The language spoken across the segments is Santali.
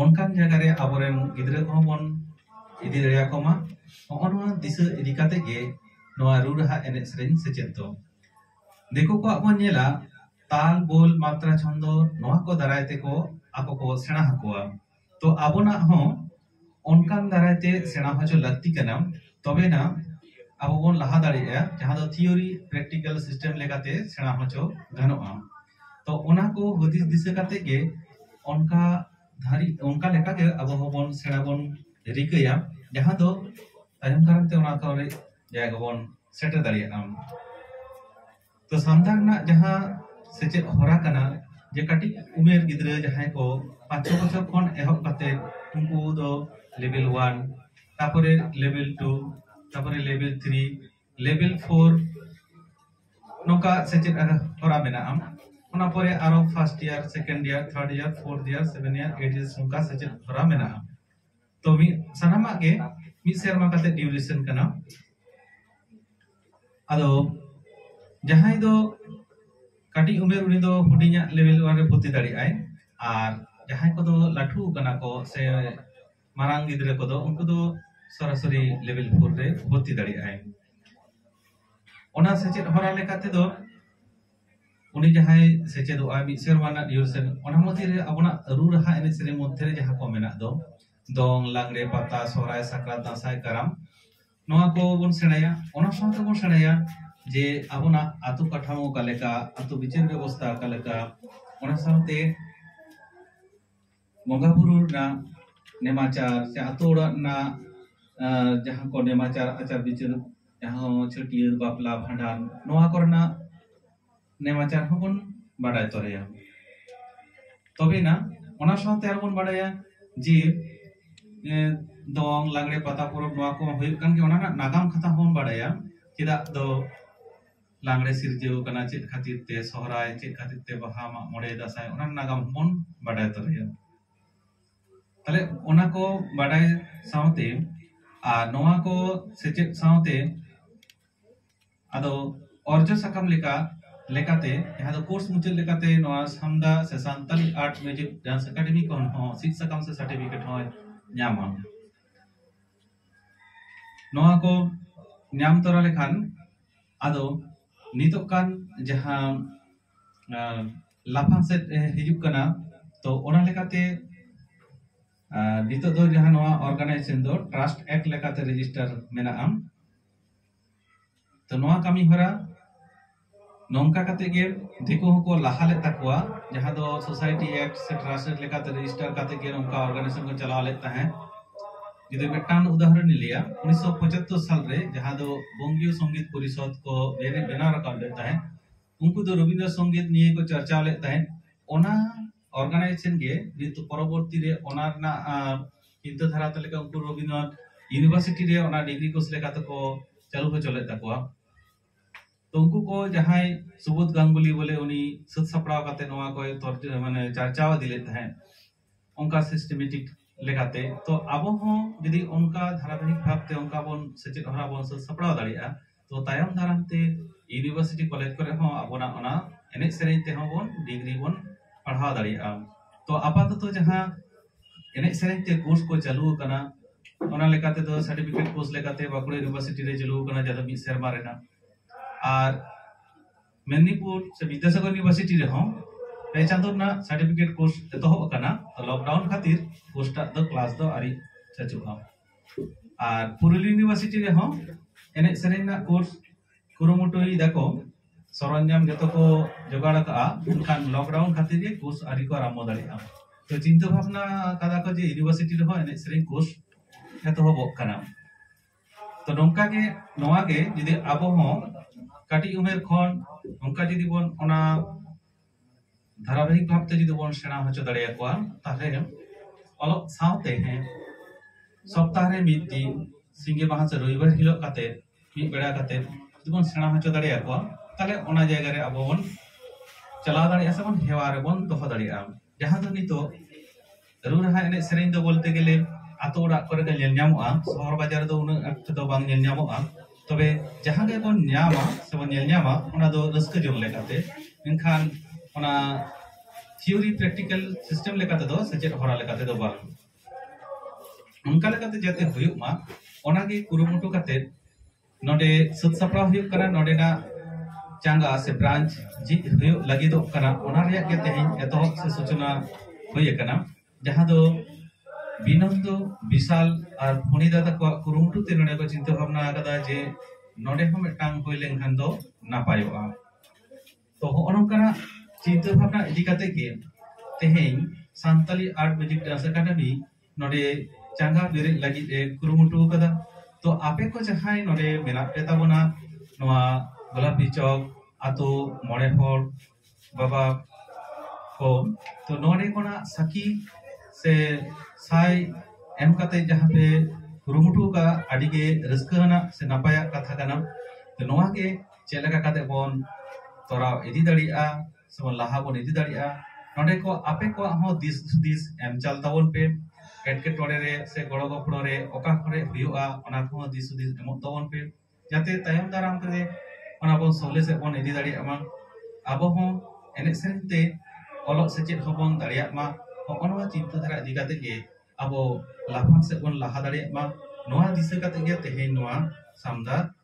ᱚᱱᱠᱟᱱ ᱡᱟᱭᱜᱟ ᱨᱮ ᱟᱵᱚ ᱨᱮᱱ ᱜᱤᱫᱽᱨᱟᱹ ᱠᱚᱦᱚᱸ ᱵᱚᱱ ᱤᱫᱤ ᱫᱟᱲᱮ ᱟᱠᱚ ᱢᱟ ᱱᱚᱜᱼᱚ ᱱᱚᱣᱟ ᱫᱤᱥᱟᱹ ᱤᱫᱤ ᱠᱟᱛᱮ ᱜᱮ ᱱᱚᱣᱟ ᱨᱩ ᱨᱟᱦᱟ ᱮᱱᱮᱡ ᱥᱮᱨᱮᱧ ᱥᱮᱪᱮᱫ ᱫᱚ ᱫᱤᱠᱩ ᱠᱚᱣᱟᱜ ᱵᱚᱱ ᱧᱮᱞᱟ ᱛᱟᱞ ᱵᱳᱞ ᱢᱟᱛᱨᱟ ᱪᱷᱚᱱᱫᱚ ᱱᱚᱣᱟ ᱠᱚ ᱫᱟᱨᱟᱭ ᱛᱮᱠᱚ ᱟᱠᱚ ᱠᱚ ᱥᱮᱬᱟ ᱟᱠᱚᱣᱟ ᱛᱚ ᱟᱵᱚᱱᱟᱜ ᱦᱚᱸ ᱚᱱᱠᱟᱱ ᱫᱟᱨᱟᱭ ᱛᱮ ᱥᱮᱬᱟ ᱦᱚᱪᱚ ᱞᱟᱹᱠᱛᱤ ᱠᱟᱱᱟ ᱛᱚᱵᱮᱱᱟ ᱟᱵᱚ ᱵᱚᱱ ᱞᱟᱦᱟ ᱫᱟᱲᱮᱭᱟᱜᱼᱟ ᱡᱟᱦᱟᱸ ᱫᱚ ᱛᱷᱤᱭᱳᱨᱤ ᱯᱨᱮᱠᱴᱤᱠᱮᱞ ᱥᱤᱥᱴᱮᱢ ᱞᱮᱠᱟᱛᱮ ᱥᱮᱬᱟ ᱦᱚᱪᱚ ᱜᱟᱱᱚᱜᱼᱟ ᱛᱚ ᱚᱱᱟ ᱠᱚ ᱦᱩᱫᱤᱥ ᱫᱤᱥᱟᱹ ᱠᱟᱛᱮ ᱜᱮ ᱚᱱᱠᱟ ᱫᱷᱟᱹᱨᱤ ᱚᱱᱠᱟ ᱞᱮᱠᱟ ᱜᱮ ᱟᱵᱚ ᱦᱚᱸᱵᱚᱱ ᱥᱮᱬᱟ ᱵᱚᱱ ᱨᱤᱠᱟᱹᱭᱟ ᱡᱟᱦᱟᱸ ᱫᱚ ᱛᱟᱭᱚᱢ ᱫᱟᱨᱟᱢ ᱛᱮ ᱚᱱᱟ ᱠᱚᱨᱮ ᱡᱟᱭᱜᱟ ᱵᱚᱱ ᱥᱮᱴᱮᱨ ᱫᱟᱲᱮᱭᱟᱜᱼᱟ ᱛᱚ ᱥᱟᱱᱛᱟᱲ ᱨᱮᱱᱟᱜ ᱡᱟᱦᱟᱸ ᱥᱮᱪᱮᱫ ᱦᱚᱨᱟ ᱠᱟᱱᱟ ᱡᱮ ᱠᱟᱹᱴᱤᱡ ᱩᱢᱮᱨ ᱜᱤᱫᱽᱨᱟᱹ ᱡᱟᱦᱟᱸᱭ ᱠᱚ ᱯᱟᱸᱪ ᱪᱷᱚ ᱵᱚᱪᱷᱚᱨ ᱠᱷᱚᱱ ᱮᱦᱚᱵ ᱠᱟᱛᱮ ᱩᱱᱠᱩ ᱫᱚ ᱞᱮᱵᱮᱞ ᱳᱣᱟᱱ ᱛᱟᱯᱚᱨᱮ ᱞᱮᱵᱮᱞ ᱴᱩ ᱛᱟᱯᱚᱨᱮ ᱞᱮᱵᱮᱞ ᱛᱷᱨᱤ ᱞᱮᱵᱮᱞ ᱯᱷᱳᱨ ᱱᱚᱝᱠᱟ ᱥᱮᱪᱮᱫ ᱦᱚᱨᱟ ᱢᱮᱱᱟᱜᱼᱟ ᱚᱱᱟ ᱯᱚᱨᱮ ᱟᱨᱚ first year second year third year fourth year seven year eight year ᱱᱚᱝᱠᱟ ᱥᱮᱪᱮᱫ ᱦᱚᱨᱟ ᱢᱮᱱᱟᱜᱼᱟ ᱛᱚ ᱢᱤᱫ ᱥᱟᱱᱟᱢᱟᱜ ᱜᱮ ᱢᱤᱫ ᱥᱮᱨᱢᱟ ᱠᱟᱛᱮ ᱰᱤউᱨᱮᱥᱚᱱ ᱠᱟᱱᱟ ᱟᱫᱚ ᱡᱟᱦᱟᱸᱭ ᱫᱚ ᱠᱟᱹᱴᱤᱡ ᱩᱢᱮᱨ ᱩᱱᱤ ᱫᱚ ᱦᱩᱰᱤᱧᱟᱜ ᱞᱮᱵᱮᱞ ᱚᱣᱟᱱ ᱨᱮ ᱵᱷᱚᱨᱛᱤ ᱫᱟᱲᱮᱭᱟᱜᱼᱟᱭ ᱟᱨ ᱡᱟᱦᱟᱸᱭ ᱠᱚᱫᱚ ᱞᱟᱹᱴᱷᱩ ᱠᱟᱱᱟ ᱠᱚ ᱥᱮ ᱢᱟᱨᱟᱝ ᱜᱤᱫᱽᱨᱟᱹ ᱠᱚᱫᱚ ᱩᱱᱠᱩ ᱫᱚ ᱥᱚᱨᱟᱥᱚᱨᱤ ᱞᱮᱵᱮᱞ ᱯᱷᱳᱨ ᱨᱮ ᱵᱷᱚᱨᱛᱤ ᱫᱟᱲᱮᱭᱟᱜᱼᱟᱭ ᱚᱱᱟ ᱥᱮᱪᱮᱫ ᱦᱚᱨᱟ ᱞᱮᱠᱟ ᱛᱮᱫᱚ ᱩᱱᱤ ᱡᱟᱦᱟᱸᱭ ᱥᱮᱪᱮᱫᱚᱜᱼᱟ ᱢᱤᱫ ᱥᱮᱨᱢᱟ ᱨᱮᱱᱟᱜ ᱰᱤᱭᱩᱨᱮᱥᱚᱱ ᱚᱱᱟ ᱢᱚᱫᱽᱫᱷᱮ ᱨᱮ ᱟᱵᱚᱱᱟᱜ ᱨᱩ ᱨᱟᱦᱟ ᱮᱱᱮᱡ ᱥᱮᱨᱮᱧ ᱢᱚᱫᱽᱫᱷᱮ ᱨᱮ ᱡᱟᱦᱟᱸ ᱠᱚ ᱢᱮᱱᱟᱜ ᱫᱚ ᱫᱚᱝ ᱞᱟᱜᱽᱲᱮ ᱯᱟᱛᱟ ᱥᱚᱦᱨᱟᱭ ᱥᱟᱠᱨᱟᱛ ᱫᱟᱸᱥᱟᱭ ᱠᱟᱨᱟᱢ ᱱᱚᱣᱟ ᱠᱚᱵᱚᱱ ᱥᱮᱬᱟᱭᱟ ᱚᱱᱟ ᱥᱟᱶᱛᱮ ᱵᱚᱱ ᱥᱮᱬᱟᱭᱟ ᱡᱮ ᱟᱵᱚᱱᱟᱜ ᱟᱛᱳ ᱠᱟᱴᱷᱟᱢᱳ ᱚᱠᱟ ᱞᱮᱠᱟ ᱟᱛᱳ ᱵᱤᱪᱟᱹᱨ ᱵᱮᱵᱚᱥᱛᱷᱟ ᱚᱠᱟ ᱞᱮᱠᱟ ᱚᱱᱟ ᱥᱟᱶᱛᱮ ᱵᱚᱸᱜᱟ ᱵᱩᱨᱩ ᱨᱮᱱᱟᱜ ᱱᱮᱢᱟᱪᱟᱨ ᱥᱮ ᱟᱛᱳ ᱚᱲᱟᱜ ᱨᱮᱱᱟᱜ ᱡᱟᱦᱟᱸ ᱠᱚ ᱱᱮᱢᱟᱪᱟᱨ ᱟᱪᱟᱨ ᱵᱤᱪᱟᱹᱨ ᱡᱟᱦᱟᱸ ᱪᱷᱟᱹᱴᱭᱟᱹᱨ ᱵᱟᱯᱞᱟ ᱵᱷᱟᱸᱰᱟᱱ ᱱᱚᱣᱟ ᱠᱚᱨᱮᱱᱟᱜ ᱱᱮᱢᱟᱪᱟᱨ ᱦᱚᱸᱵᱚᱱ ᱵᱟᱰᱟᱭ ᱛᱚᱨᱟᱭᱟ ᱛᱚᱵᱮᱱᱟ ᱚᱱᱟ ᱥᱟᱶᱛᱮ ᱟᱨᱵᱚᱱ ᱵᱟᱰᱟᱭᱟ ᱡᱮ ᱫᱚᱝ ᱞᱟᱜᱽᱲᱮ ᱯᱟᱛᱟ ᱯᱚᱨᱚᱵᱽ ᱱᱚᱣᱟ ᱠᱚ ᱦᱩᱭᱩᱜ ᱠᱟᱱ ᱜᱮᱭᱟ ᱚᱱᱟ ᱨᱮᱱᱟᱜ ᱱᱟᱜᱟᱢ ᱠᱟᱛᱷᱟ ᱦᱚᱸᱵᱚᱱ ᱵᱟᱰᱟᱭᱟ ᱪᱮᱫᱟᱜ ᱫᱚ ᱞᱟᱜᱽᱬᱮ ᱥᱤᱨᱡᱟᱹᱣ ᱟᱠᱟᱱᱟ ᱪᱮᱫ ᱠᱷᱟᱹᱛᱤᱨ ᱛᱮ ᱥᱚᱦᱨᱟᱭ ᱪᱮᱫ ᱠᱷᱟᱹᱛᱤᱨ ᱛᱮ ᱵᱟᱦᱟ ᱢᱟᱜ ᱢᱚᱬᱮ ᱫᱟᱸᱥᱟᱭ ᱚᱱᱟ ᱨᱮᱱᱟᱜ ᱱᱟᱜᱟᱢ ᱦᱚᱸᱵᱚᱱ ᱵᱟᱰᱟᱭ ᱛᱚᱨᱟᱭᱟ ᱛᱟᱦᱞᱮ ᱚᱱᱟ ᱠᱚ ᱵᱟᱰᱟᱭ ᱥᱟᱶᱛᱮ ᱟᱨ ᱱᱚᱣᱟ ᱠᱚ ᱥᱮᱪᱮᱫ ᱥᱟᱶᱛᱮ ᱟᱫᱚ ᱚᱨᱡᱚ ᱥᱟᱠᱟᱢ ᱞᱮᱠᱟ ᱞᱮᱠᱟᱛᱮ ᱡᱟᱦᱟᱸ ᱫᱚ ᱠᱳᱨᱥ ᱢᱩᱪᱟᱹᱫ ᱞᱮᱠᱟᱛᱮ ᱱᱚᱣᱟ ᱥᱟᱢᱫᱟ ᱥᱮ Santali art music dance academy ᱠᱷᱚᱱ ᱦᱚᱸ ᱥᱤᱫ ᱥᱟᱠᱟᱢ ᱥᱮ ᱥᱟᱨᱴᱤᱯᱷᱤᱠᱮᱴ ᱦᱚᱸ ᱧᱟᱢᱟ ᱱᱚᱣᱟ ᱠᱚ ᱧᱟᱢ ᱛᱚᱨᱟ ᱞᱮᱠᱷᱟᱱ ᱟᱫᱚ ᱱᱤᱛᱚᱜ ᱠᱟᱱ ᱡᱟᱦᱟᱸ ᱞᱟᱯᱷᱟᱝ ᱥᱮᱫ ᱦᱤᱡᱩᱜ ᱠᱟᱱᱟ ᱛᱚ ᱚᱱᱟ ᱞᱮᱠᱟᱛᱮ ᱱᱤᱛᱚᱜ ᱫᱚ ᱡᱟᱦᱟᱸ ᱱᱚᱣᱟ ᱚᱨᱜᱟᱱᱟᱭᱡᱮᱥᱚᱱ ᱫᱚ ᱴᱨᱟᱥᱴ ᱮᱠᱴ ᱞᱮᱠᱟᱛᱮ ᱨᱮᱡᱤᱥᱴᱟᱨ ᱢᱮᱱᱟᱜᱼᱟ ᱛᱚ ᱱᱚᱣᱟ ᱠᱟᱹᱢᱤ ᱦᱚᱨᱟ ᱱᱚᱝᱠᱟ ᱠᱟᱛᱮ ᱜᱮ ᱫᱤᱠᱩ ᱦᱚᱸᱠᱚ ᱞᱟᱦᱟ ᱞᱮᱫ ᱛᱟᱠᱚᱣᱟ ᱡᱟᱦᱟᱸ ᱫᱚ ᱥᱳᱥᱟᱭᱴᱤ ᱮᱠᱴ ᱥᱮ ᱴᱨᱟᱥᱴ ᱮᱠᱴ ᱞᱮᱠᱟᱛᱮ ᱨᱮᱡᱤᱥᱴᱟᱨ ᱠᱟᱛᱮ ᱜᱮ ᱱᱚᱝᱠᱟ ᱚᱨᱜᱟᱱᱟᱭᱡᱮᱥᱚᱱ ᱠᱚ ᱪᱟᱞᱟᱣ ᱞᱮᱫ ᱛᱟᱦᱮᱸᱫ ᱡᱩᱫᱤ ᱢᱤᱫᱴᱟᱝ ᱩᱫᱟᱦᱚᱨᱚᱱᱤᱧ ᱞᱟᱹᱭᱟ ᱩᱱᱤᱥᱥᱚ ᱯᱚᱸᱪᱟᱛᱛᱳᱨ ᱥᱟᱞ ᱨᱮ ᱡᱟᱦᱟᱸ ᱫᱚ ᱵᱚᱝᱜᱤᱭᱚ ᱥᱚᱝᱜᱤᱛ ᱯᱚᱨᱤᱥᱚᱫ ᱠᱚ ᱵᱮᱨᱮᱫ ᱵᱮᱱᱟᱣ ᱨᱟᱠᱟᱵ ᱞᱮᱫ ᱛᱟᱦᱮᱸᱫ ᱩᱱᱠᱩ ᱫᱚ ᱨᱚᱵᱤᱱᱫᱨᱚ ᱥᱚᱝᱜᱤᱛ ᱱᱤᱭᱮ ᱠᱚ ᱪᱚᱨᱪᱟᱣ ᱞᱮᱫ ᱛᱟᱦᱮᱸᱫ ᱚᱱᱟ ᱚᱨᱜᱟᱱᱟᱭᱡᱮᱥᱚᱱ ᱜᱮ ᱱᱤᱛ ᱯᱚᱨᱚᱵᱚᱨᱛᱤ ᱨᱮ ᱚᱱᱟ ᱨᱮᱱᱟᱜ ᱪᱤᱱᱛᱟᱹ ᱫᱷᱟᱨᱟ ᱛᱮ ᱞᱮᱠᱟ ᱩᱱᱠᱩ ᱨᱚᱵᱤᱱᱫᱨᱚᱱᱟᱛᱷ ᱤᱭᱩᱱᱤᱵᱷᱟᱨᱥᱤᱴᱤ ᱨᱮ ᱚᱱᱟ ᱰᱤᱜᱽᱨᱤ ᱠᱳᱨᱥ ᱞᱮᱠᱟ ᱛᱮᱠᱚ ᱪᱟᱹᱞᱩ ᱦᱚᱪᱚ ᱞᱮᱫ ᱛᱟᱠᱚᱣᱟ ᱛᱚ ᱩᱱᱠᱩ ᱠᱚ ᱡᱟᱦᱟᱸᱭ ᱥᱩᱵᱳᱫᱷ ᱜᱟᱝᱜᱩᱞᱤ ᱵᱚᱞᱮ ᱩᱱᱤ ᱥᱟᱹᱛ ᱥᱟᱯᱲᱟᱣ ᱠᱟᱛᱮ ᱱᱚᱣᱟ ᱠᱚᱭ ᱛᱚᱨᱡᱚ ᱢᱟᱱᱮ ᱪᱟᱨᱪᱟᱣ ᱤᱫᱤ ᱞᱮᱫ ᱛᱟᱦᱮᱸᱫ ᱚᱱᱠᱟ ᱥᱤᱥᱴᱮᱢᱮᱴᱤᱠ ᱞᱮᱠᱟᱛᱮ ᱛᱚ ᱟᱵᱚ ᱦᱚᱸ ᱡᱩᱫᱤ ᱚᱱᱠᱟ ᱫᱷᱟᱨᱟᱵᱟᱦᱤᱠ ᱵᱷᱟᱵᱛᱮ ᱚᱱᱠᱟ ᱵᱚᱱ ᱥᱮᱪᱮᱫ ᱦᱚᱨᱟ ᱵᱚᱱ ᱥᱟᱹᱛ ᱥᱟᱯᱲᱟᱣ ᱫᱟᱲᱮᱭᱟᱜᱼᱟ ᱛᱚ ᱛᱟᱭᱚᱢ ᱫᱟᱨᱟᱢ ᱛᱮ ᱤᱭᱩᱱᱤᱵᱷᱟᱨᱥᱤᱴᱤ ᱠᱚᱞᱮᱡᱽ ᱠᱚᱨᱮ ᱦᱚᱸ ᱟᱵᱚᱱᱟᱜ ᱚᱱᱟ ᱮᱱᱮᱡ ᱥᱮᱨᱮᱧ ᱛᱮᱦᱚᱸ ᱵᱚᱱ ᱰᱤᱜᱽᱨᱤ ᱵᱚᱱ ᱯᱟᱲᱦᱟᱣ ᱫᱟᱲᱮᱭᱟᱜᱼᱟ ᱛᱚ ᱟᱯᱟᱛᱚᱛᱚ ᱡᱟᱦᱟᱸ ᱮᱱᱮᱡ ᱥᱮᱨᱮᱧ ᱛᱮ ᱠᱳᱨᱥ ᱠᱚ ᱪᱟᱹᱞᱩ ᱟᱠᱟᱱᱟ ᱚᱱᱟ ᱞᱮᱠᱟ ᱛᱮᱫᱚ ᱥᱟᱨᱴᱤᱯᱷᱤᱠᱮᱴ ᱠᱳᱨᱥ ᱞᱮᱠᱟᱛᱮ ᱵᱟᱸᱠᱩᱲᱟ ᱤᱭᱩᱱᱤᱵᱷᱟᱨᱥᱤᱴᱤ ᱨᱮ ᱪᱟᱹᱞᱩ ᱟᱠᱟᱱᱟ ᱡᱟᱦᱟᱸ ᱫᱚ ᱢᱤᱫ ᱥᱮᱨᱢᱟ ᱨᱮᱱᱟᱜ ᱟᱨ ᱢᱮᱫᱽᱱᱤᱯᱩᱨ ᱥᱮ ᱵᱤᱫᱽᱫᱟᱥᱟᱜᱚᱨ ᱤᱭᱩᱱᱤᱵᱷᱟᱨᱥᱤᱴᱤ ᱨᱮᱦᱚᱸ ᱯᱮ ᱪᱟᱸᱫᱳ ᱨᱮᱱᱟᱜ ᱥᱟᱨᱴᱤᱯᱷᱤᱠᱮᱴ ᱠᱳᱨᱥ ᱮᱛᱚᱦᱚᱵ ᱟᱠᱟᱱᱟ ᱛᱚ ᱞᱚᱠᱰᱟᱣᱩᱱ ᱠᱷᱟᱹᱛᱤᱨ ᱠᱳᱨᱥᱴᱟᱜ ᱫᱚ ᱠᱞᱟᱥ ᱫᱚ ᱟᱹᱣᱨᱤ ᱪᱟᱪᱳᱜᱼᱟ ᱟᱨ ᱯᱩᱨᱩᱞᱤᱭᱟᱹ ᱤᱭᱩᱱᱤᱵᱷᱟᱨᱥᱤᱴᱤ ᱨᱮᱦᱚᱸ ᱮᱱᱮᱡ ᱥᱮᱨᱮᱧ ᱨᱮᱱᱟᱜ ᱠᱳᱨᱥ ᱠᱩᱨᱩᱢᱩᱴᱩᱭ ᱫᱟᱠᱚ ᱥᱚᱨᱚᱧᱡᱟᱢ ᱡᱚᱛᱚ ᱠᱚ ᱡᱚᱜᱟᱲ ᱟᱠᱟᱫᱼᱟ ᱢᱮᱱᱠᱷᱟᱱ ᱞᱚᱠᱰᱟᱣᱩᱱ ᱠᱷᱟᱹᱛᱤᱨ ᱜᱮ ᱠᱳᱨᱥ ᱟᱹᱣᱨᱤ ᱠᱚ ᱟᱨᱟᱢᱵᱚ ᱫᱟᱲᱮᱭᱟᱜᱼᱟ ᱛᱚ ᱪᱤᱱᱛᱟᱹ ᱵᱷᱟᱵᱽᱱᱟ ᱠᱟᱫᱟ ᱠᱚ ᱡᱮ ᱤᱭᱩᱱᱤᱵᱷᱟᱨᱥᱤᱴᱤ ᱨᱮᱦᱚᱸ ᱮᱱᱮᱡ ᱥᱮᱨᱮᱧ ᱠᱳᱨᱥ ᱮᱛᱚᱦᱚᱵᱚᱜ ᱠᱟᱱᱟ ᱛᱚ ᱱᱚᱝᱠᱟ ᱜᱮ ᱱᱚᱣᱟ ᱜᱮ ᱡᱩᱫᱤ ᱟᱵᱚ ᱦᱚᱸ ᱠᱟᱹᱴᱤᱡ ᱩᱢᱮᱨ ᱠᱷᱚᱱ ᱚᱱᱠᱟ ᱡᱩᱫᱤ ᱵᱚᱱ ᱚᱱᱟ ᱫᱷᱟᱨᱟᱵᱟᱦᱤᱠ ᱵᱷᱟᱵᱛᱮ ᱡᱩᱫᱤ ᱵᱚᱱ ᱥᱮᱬᱟ ᱦᱚᱪᱚ ᱫᱟᱲᱮᱭᱟᱠᱚᱣᱟ ᱛᱟᱦᱚᱞᱮ ᱚᱞᱚᱜ ᱥᱟᱶᱛᱮ ᱦᱮᱸ ᱥᱚᱯᱛᱟᱦᱚ ᱨᱮ ᱢᱤᱫ ᱫᱤᱱ ᱥᱤᱸᱜᱮ ᱢᱟᱦᱟ ᱥᱮ ᱨᱚᱵᱤᱵᱟᱨ ᱦᱤᱞᱳᱜ ᱠᱟᱛᱮ ᱢᱤᱫ ᱵᱮᱲᱟ ᱠᱟᱛᱮ ᱡᱩᱫᱤ ᱵᱚᱱ ᱥᱮᱬᱟ ᱦᱚᱪᱚ ᱫᱟᱲᱮᱭᱟᱠᱚᱣᱟ ᱛᱟᱦᱚᱞᱮ ᱚᱱᱟ ᱡᱟᱭᱜᱟ ᱨᱮ ᱟᱵᱚ ᱵᱚᱱ ᱪᱟᱞᱟᱣ ᱫᱟᱲᱮᱭᱟᱜᱼᱟ ᱥᱮᱵᱚᱱ ᱦᱮᱣᱟ ᱨᱮᱵᱚᱱ ᱫᱚᱦᱚ ᱫᱟᱲᱮᱭᱟᱜᱼᱟ ᱡᱟᱦᱟᱸ ᱫᱚ ᱱᱤᱛᱚᱜ ᱨᱩ ᱨᱟᱦᱟ ᱮᱱᱮᱡ ᱥᱮᱨᱮᱧ ᱫᱚ ᱵᱚᱞᱛᱮ ᱜᱮᱞᱮ ᱟᱛᱳ ᱚᱲᱟᱜ ᱠᱚᱨᱮ ᱜᱮ ᱧᱮᱞ ᱧᱟᱢᱚᱜᱼᱟ ᱥᱚᱦᱚᱨ ᱵᱟᱡᱟᱨ ᱨᱮᱫᱚ ᱩᱱᱟᱹᱜ ᱮᱠᱴᱟ ᱫᱚ ᱵᱟᱝ ᱧᱮᱞ ᱧᱟᱢᱚᱜᱼᱟ ᱛᱚᱵᱮ ᱡᱟᱦᱟᱸ ᱜᱮᱵᱚᱱ ᱧᱟᱢᱟ ᱥᱮᱵᱚᱱ ᱧᱮᱞ ᱧᱟᱢᱟ ᱚᱱᱟ ᱫᱚ ᱨᱟᱹᱥᱠᱟᱹ ᱡᱚᱝ ᱞᱮᱠᱟᱛᱮ ᱢᱮᱱᱠᱷᱟᱱ ᱚᱱᱟ ᱛᱷᱤᱭᱳᱨᱤ ᱯᱨᱮᱠᱴᱤᱠᱮᱞ ᱥᱤᱥᱴᱮᱢ ᱞᱮᱠᱟ ᱛᱮᱫᱚ ᱥᱮᱪᱮᱫ ᱦᱚᱨᱟ ᱞᱮᱠᱟ ᱛᱮᱫᱚ ᱵᱟᱝ ᱚᱱᱠᱟ ᱞᱮᱠᱟᱛᱮ ᱡᱟᱛᱮ ᱦᱩᱭᱩᱜ ᱢᱟ ᱚᱱᱟᱜᱮ ᱠᱩᱨᱩᱢᱩᱴᱩ ᱠᱟᱛᱮ ᱱᱚᱰᱮ ᱥᱟᱹᱛ ᱥᱟᱯᱲᱟᱣ ᱦᱩᱭᱩᱜ ᱠᱟᱱᱟ ᱱᱚᱰᱮᱱᱟᱜ ᱪᱟᱸᱜᱟ ᱥᱮ ᱵᱨᱟᱱᱪ ᱡᱷᱤᱡ ᱦᱩᱭᱩᱜ ᱞᱟᱹᱜᱤᱫᱚᱜ ᱠᱟᱱᱟ ᱚᱱᱟ ᱨᱮᱭᱟᱜ ᱜᱮ ᱛᱮᱦᱮᱧ ᱮᱛᱚᱦᱚᱵ ᱥᱮ ᱥᱩᱪᱚᱱᱟ ᱦᱩᱭ ᱟᱠᱟᱱᱟ ᱡᱟᱦᱟᱸ ᱫᱚ ᱵᱤᱱᱚᱱᱫᱚ ᱵᱤᱥᱟᱞ ᱟᱨ ᱯᱷᱩᱱᱤ ᱫᱟᱫᱟ ᱠᱚᱣᱟᱜ ᱠᱩᱨᱩᱢᱩᱴᱩ ᱛᱮ ᱱᱚᱰᱮ ᱠᱚ ᱪᱤᱱᱛᱟᱹ ᱵᱷᱟᱵᱽᱱᱟ ᱟᱠᱟᱫᱟ ᱡᱮ ᱱᱚᱰᱮ ᱦᱚᱸ ᱢᱤᱫᱴᱟᱝ ᱦᱩᱭ ᱞᱮᱱᱠᱷᱟᱱ ᱫᱚ ᱱᱟᱯᱟᱭᱚᱜᱼᱟ ᱛᱚ ᱦᱚᱜᱼᱚ ᱱᱚᱝᱠᱟᱱᱟᱜ ᱪᱤᱱᱛᱟᱹ ᱵᱷᱟᱵᱽᱱᱟ ᱤᱫᱤ ᱠᱟᱛᱮ ᱜᱮ ᱛᱮᱦᱮᱧ Santali art music dance academy ᱱᱚᱰᱮ ᱪᱟᱸᱜᱟ ᱵᱮᱨᱮᱫ ᱞᱟᱹᱜᱤᱫ ᱮ ᱠᱩᱨᱩᱢᱩᱴᱩ ᱟᱠᱟᱫᱟ ᱛᱚ ᱟᱯᱮ ᱠᱚ ᱡᱟᱦᱟᱸᱭ ᱱᱚᱰᱮ ᱢᱮᱱᱟᱜ ᱯᱮ ᱛᱟᱵᱚᱱᱟ ᱱᱚᱣᱟ ᱜᱳᱞᱟᱯᱤ ᱪᱚᱠ ᱟᱛᱳ ᱢᱚᱬᱮ ᱦᱚᱲ ᱵᱟᱵᱟ ᱠᱚ ᱛᱚ ᱱᱚᱰᱮ ᱠᱷᱚᱱᱟᱜ ᱥᱟᱹᱠᱷᱤ ᱥᱮ ᱥᱟᱭ ᱮᱢ ᱠᱟᱛᱮ ᱡᱟᱦᱟᱸ ᱯᱮ ᱠᱩᱨᱩᱢᱩᱴᱩ ᱟᱠᱟᱫ ᱟᱹᱰᱤ ᱜᱮ ᱨᱟᱹᱥᱠᱟᱹ ᱟᱱᱟᱜ ᱥᱮ ᱱᱟᱯᱟᱭᱟᱜ ᱠᱟᱛᱷᱟ ᱠᱟᱱᱟ ᱛᱚ ᱱᱚᱣᱟ ᱜᱮ ᱪᱮᱫ ᱞᱮᱠᱟ ᱠᱟᱛᱮ ᱵᱚᱱ ᱛᱚᱨᱟᱣ ᱤᱫᱤ ᱫᱟᱲᱮᱭᱟᱜᱼᱟ ᱥᱮ ᱵᱚᱱ ᱞᱟᱦᱟ ᱵᱚᱱ ᱤᱫᱤ ᱫᱟᱲᱮᱭᱟᱜᱼᱟ ᱱᱚᱰᱮ ᱠᱚ ᱟᱯᱮ ᱠᱚᱣᱟᱜ ᱦᱚᱸ ᱫᱤᱥ ᱦᱩᱫᱤᱥ ᱮᱢ ᱪᱟᱞ ᱛᱟᱵᱚᱱ ᱯᱮ ᱮᱴᱠᱮᱴᱚᱬᱮ ᱨᱮ ᱥᱮ ᱜᱚᱲᱚ ᱜᱚᱯᱚᱲᱚ ᱨᱮ ᱚᱠᱟ ᱠᱚᱨᱮ ᱦᱩᱭᱩᱜᱼᱟ ᱚᱱᱟ ᱠᱚᱦᱚᱸ ᱫᱤᱥ ᱦᱩᱫᱤᱥ ᱮᱢᱚᱜ ᱛᱟᱵᱚᱱ ᱯᱮ ᱡᱟᱛᱮ ᱛᱟᱭᱚᱢ ᱫᱟᱨᱟᱢ ᱨᱮ ᱚᱱᱟ ᱵᱚᱱ ᱥᱚᱞᱦᱮ ᱥᱮᱫ ᱵᱚᱱ ᱤᱫᱤ ᱫᱟᱲᱮᱭᱟᱜ ᱢᱟ ᱟᱵᱚ ᱦᱚᱸ ᱮᱱᱮᱡ ᱥᱮᱨᱮᱧ ᱛᱮ ᱚᱞᱚᱜ ᱥᱮᱪᱮᱫ ᱦᱚᱸᱵᱚᱱ ᱫᱟᱲᱮᱭᱟᱜ ᱢᱟ ᱦᱚᱜᱼᱚ ᱱᱚᱣᱟ ᱪᱤᱱᱛᱟᱹ ᱫᱷᱟᱨᱟ ᱤᱫᱤ ᱠᱟᱛᱮ ᱜᱮ ᱟᱵᱚ ᱞᱟᱯᱷᱟᱝ ᱥᱮᱫ ᱵᱚᱱ ᱞᱟᱦᱟ ᱫᱟᱲᱮᱭᱟᱜ ᱢᱟ ᱱᱚᱣᱟ ᱫᱤᱥᱟᱹ ᱠᱟᱛᱮ ᱜᱮ ᱛᱮᱦᱮᱧ ᱱᱚᱣᱟ ᱥᱟᱢᱫᱟ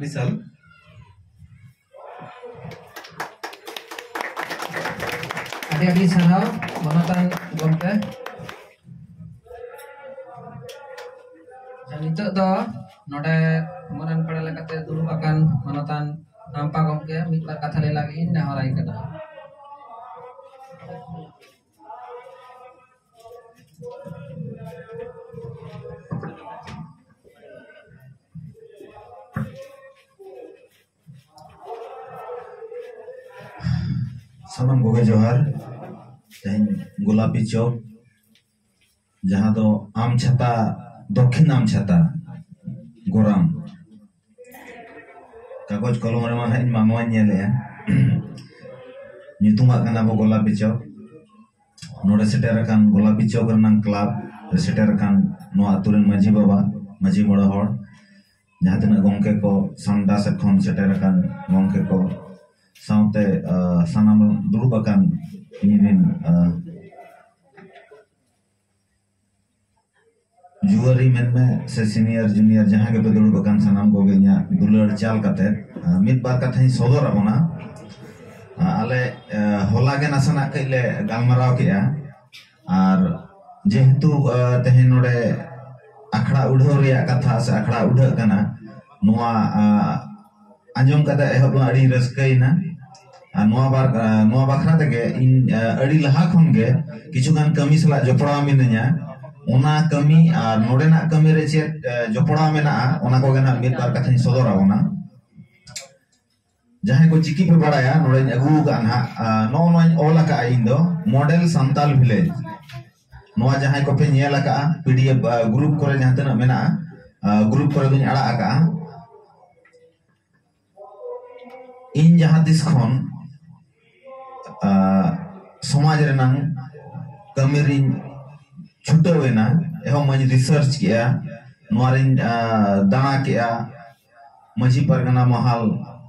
বিশাল ᱟᱹᱰᱤ ᱟᱹᱰᱤ ᱥᱟᱨᱦᱟᱣ ᱢᱟᱱᱚᱛᱟᱱ ᱜᱚᱢᱠᱮ ᱱᱤᱛᱚᱜ ᱫᱚ ᱱᱚᱰᱮ ᱢᱚᱨᱟᱱ ᱯᱟᱲᱟ ᱞᱮᱠᱟᱛᱮ ᱫᱩᱲᱩᱵ ᱟᱠᱟᱱ ᱢᱟᱱᱚᱛᱟᱱ ᱟᱢᱯᱟ ᱜᱚᱢᱠᱮ ᱢᱤᱫ ᱵᱟᱨ ᱠᱟᱛᱷᱟ ᱞᱟᱹᱭ ᱞᱟᱹᱜᱤᱫ ᱤᱧ ᱱᱮᱦᱚᱨᱟᱭ ᱠᱟᱱᱟ ᱥᱟᱱᱟᱢ ᱠᱚᱜᱮ ᱡᱚᱦᱟᱨ ᱛᱮᱦᱮᱧ ᱜᱳᱞᱟᱯᱤ ᱪᱚᱠ ᱡᱟᱦᱟᱸ ᱫᱚ ᱟᱢ ᱪᱷᱟᱛᱟ ᱫᱚᱠᱷᱤᱱ ᱟᱢ ᱪᱷᱟᱛᱟ ᱜᱚᱨᱟᱢ ᱠᱟᱜᱚᱡᱽ ᱠᱚᱞᱚᱢ ᱨᱮᱢᱟ ᱦᱟᱸᱜ ᱤᱧ ᱢᱟ ᱱᱚᱣᱟᱧ ᱧᱮᱞᱮᱜᱼᱟ ᱧᱩᱛᱩᱢᱟᱜ ᱠᱟᱱᱟ ᱵᱚ ᱜᱳᱞᱟᱯᱤ ᱪᱚᱠ ᱱᱚᱰᱮ ᱥᱮᱴᱮᱨ ᱟᱠᱟᱱ ᱜᱳᱞᱟᱯᱤ ᱪᱚᱠ ᱨᱮᱱᱟᱝ ᱠᱞᱟᱵᱽ ᱨᱮ ᱥᱮᱴᱮᱨ ᱟᱠᱟᱱ ᱱᱚᱣᱟ ᱟᱛᱳ ᱨᱮᱱ ᱢᱟᱺᱡᱷᱤ ᱵᱟᱵᱟ ᱢᱟᱺᱡᱷᱤ ᱢᱚᱬᱮ ᱦᱚᱲ ᱡᱟᱦᱟᱸ ᱛᱤᱱᱟᱹᱜ ᱜᱚᱢᱠᱮ ᱠᱚ ᱥᱟᱢᱰᱟ ᱥᱮᱫ ᱠᱷᱚᱱ ᱥᱮᱴᱮᱨ ᱟᱠᱟᱱ ᱜᱚᱢᱠᱮ ᱠᱚ ᱥᱟᱶᱛᱮ ᱥᱟᱱᱟᱢ ᱫᱩᱲᱩᱵ ᱟᱠᱟᱱ ᱤᱧ ᱨᱮᱱ ᱡᱩᱣᱟᱹᱨᱤ ᱢᱮᱱᱢᱮ ᱥᱮ ᱥᱤᱱᱤᱭᱟᱨ ᱡᱩᱱᱤᱭᱟᱨ ᱡᱟᱦᱟᱸ ᱜᱮᱯᱮ ᱫᱩᱲᱩᱵ ᱟᱠᱟᱱ ᱥᱟᱱᱟᱢ ᱠᱚᱜᱮ ᱤᱧᱟᱹᱜ ᱫᱩᱞᱟᱹᱲ ᱪᱟᱞ ᱠᱟᱛᱮ ᱢᱤᱫ ᱵᱟᱨ ᱠᱟᱛᱷᱟᱧ ᱥᱚᱫᱚᱨ ᱟᱵᱚᱱᱟ ᱟᱞᱮ ᱦᱚᱞᱟ ᱜᱮ ᱱᱟᱥᱮᱱᱟᱜ ᱠᱟᱹᱡ ᱞᱮ ᱜᱟᱞᱢᱟᱨᱟᱣ ᱠᱮᱜᱼᱟ ᱟᱨ ᱡᱮᱦᱮᱛᱩ ᱛᱮᱦᱮᱧ ᱱᱚᱰᱮ ᱟᱠᱷᱲᱟ ᱩᱰᱷᱟᱹᱣ ᱨᱮᱭᱟᱜ ᱠᱟᱛᱷᱟ ᱥᱮ ᱟᱠᱷᱲᱟ ᱩᱰᱷᱟᱹᱜ ᱠᱟᱱᱟ ᱱᱚᱣᱟ ᱟᱸᱡᱚᱢ ᱠᱟᱛᱮ ᱮᱦᱚᱵ ᱫᱚ ᱟᱹᱰᱤ ᱨᱟᱹᱥᱠᱟᱹᱭᱮᱱᱟ ᱟᱨ ᱱᱚᱣᱟ ᱵᱟᱨ ᱱᱚᱣᱟ ᱵᱟᱠᱷᱨᱟ ᱛᱮᱜᱮ ᱤᱧ ᱟᱹᱰᱤ ᱞᱟᱦᱟ ᱠᱷᱚᱱ ᱜᱮ ᱠᱤᱪᱷᱩ ᱜᱟᱱ ᱠᱟᱹᱢᱤ ᱥᱟᱞᱟᱜ ᱡᱚᱯᱲᱟᱣ ᱢᱤᱱᱟᱹᱧᱟ ᱚᱱᱟ ᱠᱟᱹᱢᱤ ᱟᱨ ᱱᱚᱰᱮᱱᱟᱜ ᱠᱟᱹᱢᱤ ᱨᱮ ᱪᱮᱫ ᱡᱚᱯᱲᱟᱣ ᱢᱮᱱᱟᱜᱼᱟ ᱚᱱᱟ ᱠᱚᱜᱮ ᱱᱟᱜ ᱢᱤᱫ ᱵᱟᱨ ᱠᱟᱛᱷᱟᱧ ᱥᱚᱫᱚᱨ ᱟᱵᱚᱱᱟ ᱡᱟᱦᱟᱸᱭ ᱠᱚ ᱪᱤᱠᱤ ᱯᱮ ᱵᱟᱲᱟᱭᱟ ᱱᱚᱰᱮᱧ ᱟᱹᱜᱩ ᱟᱠᱟᱫᱼᱟ ᱱᱟᱜ ᱱᱚᱜᱼᱚ ᱱᱚᱣᱟᱧ ᱚᱞ ᱟᱠᱟᱫᱼᱟ ᱤᱧ ᱫᱚ ᱢᱚᱰᱮᱞ ᱥᱟᱱᱛᱟᱞ ᱵᱷᱤᱞᱮᱡᱽ ᱱᱚᱣᱟ ᱡᱟᱦᱟᱸᱭ ᱠᱚᱯᱮ ᱧᱮᱞ ᱟᱠᱟᱫᱼᱟ ᱯᱤ ᱰᱤ ᱮᱯᱷ ᱜᱨᱩᱯ ᱠᱚᱨᱮ ᱡᱟᱦᱟᱸ ᱛᱤᱱᱟᱹᱜ ᱢᱮᱱᱟᱜᱼᱟ ᱜᱨᱩᱯ ᱠᱚᱨᱮ ᱫᱚᱧ ᱟᱲᱟᱜ ᱟᱠᱟᱫᱼᱟ ᱤᱧ ᱡᱟᱦᱟᱸ ᱛᱤᱥ ᱠᱷᱚᱱ ᱥᱚᱢᱟᱡᱽ ᱨᱮᱱᱟᱝ ᱠᱟᱹᱢᱤ ᱨᱤᱧ ᱪᱷᱩᱴᱟᱹᱣ ᱮᱱᱟ ᱮᱦᱚᱵ ᱢᱟᱹᱧ ᱨᱤᱥᱟᱨᱪ ᱠᱮᱫᱼᱟ ᱱᱚᱣᱟ ᱨᱤᱧ ᱫᱟᱬᱟ ᱠᱮᱫᱼᱟ ᱢᱟᱹᱡᱷᱤ ᱯᱟᱨᱜᱟᱱᱟ ᱢᱚᱦᱟᱞ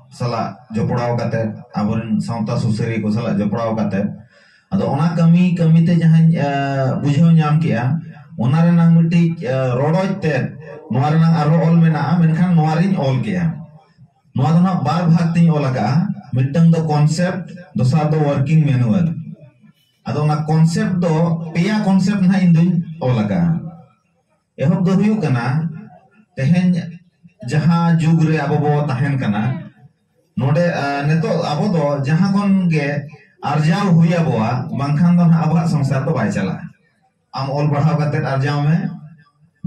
ᱥᱟᱞᱟᱜ ᱡᱚᱯᱲᱟᱣ ᱠᱟᱛᱮ ᱟᱵᱚᱨᱮᱱ ᱥᱟᱶᱛᱟ ᱥᱩᱥᱟᱹᱨᱤᱭᱟᱹ ᱠᱚ ᱥᱟᱞᱟᱜ ᱡᱚᱯᱲᱟᱣ ᱠᱟᱛᱮ ᱟᱫᱚ ᱚᱱᱟ ᱠᱟᱹᱢᱤ ᱠᱟᱹᱢᱤᱛᱮ ᱡᱟᱦᱟᱸᱧ ᱵᱩᱡᱷᱟᱹᱣ ᱧᱟᱢ ᱠᱮᱜᱼᱟ ᱚᱱᱟ ᱨᱮᱱᱟᱝ ᱢᱤᱫᱴᱤᱡ ᱨᱚᱰᱚᱡ ᱛᱮᱫ ᱱᱚᱣᱟ ᱨᱮᱱᱟᱝ ᱟᱨᱦᱚᱸ ᱚᱞ ᱢᱮᱱᱟᱜᱼᱟ ᱢᱮᱱᱠᱷᱟᱱ ᱱᱚᱣᱟ ᱨᱤᱧ ᱚᱞ ᱠᱮᱜᱼᱟ ᱱᱚᱣᱟ ᱫᱚ ᱱᱟᱜ ᱵᱟᱨ ᱵᱷᱟᱜᱽ ᱛᱤᱧ ᱚᱞ ᱟᱠᱟᱜᱼᱟ ᱢᱤᱫᱴᱟᱝ ᱫᱚ ᱠᱚᱱᱥᱮᱯᱴ ᱫᱚᱥᱟᱨ ᱫᱚ ᱣᱟᱨᱠᱤᱝ ᱢᱮᱱᱩᱣᱟᱞ ᱟᱫᱚ ᱚᱱᱟ ᱠᱚᱱᱥᱮᱯᱴ ᱫᱚ ᱯᱮᱭᱟ ᱠᱚᱱᱥᱮᱯᱴ ᱱᱟᱜ ᱤᱧ ᱫᱩᱧ ᱚᱞ ᱟᱠᱟᱜᱼᱟ ᱮᱦᱚᱵ ᱫᱚ ᱦᱩᱭᱩᱜ ᱠᱟᱱᱟ ᱛᱮᱦᱮᱧ ᱡᱟᱦᱟᱸ ᱡᱩᱜᱽ ᱨᱮ ᱟᱵᱚ ᱵᱚ ᱛᱟᱦᱮᱱ ᱠᱟᱱᱟ ᱱᱚᱰᱮ ᱱᱤᱛᱚᱜ ᱟᱵᱚ ᱫᱚ ᱡᱟᱦᱟᱸ ᱠᱷᱚᱱ ᱜᱮ ᱟᱨᱡᱟᱣ ᱦᱩᱭ ᱟᱵᱚᱣᱟ ᱵᱟᱝᱠᱷᱟᱱ ᱫᱚ ᱱᱟᱦᱟᱜ ᱟᱵᱚᱣᱟᱜ ᱥᱚᱝᱥᱟᱨ ᱫᱚ ᱵᱟᱭ ᱪᱟᱞᱟᱜᱼᱟ ᱟᱢ ᱚᱞ ᱯᱟᱲᱦᱟᱣ ᱠᱟᱛᱮ ᱟᱨᱡᱟᱣ ᱢᱮ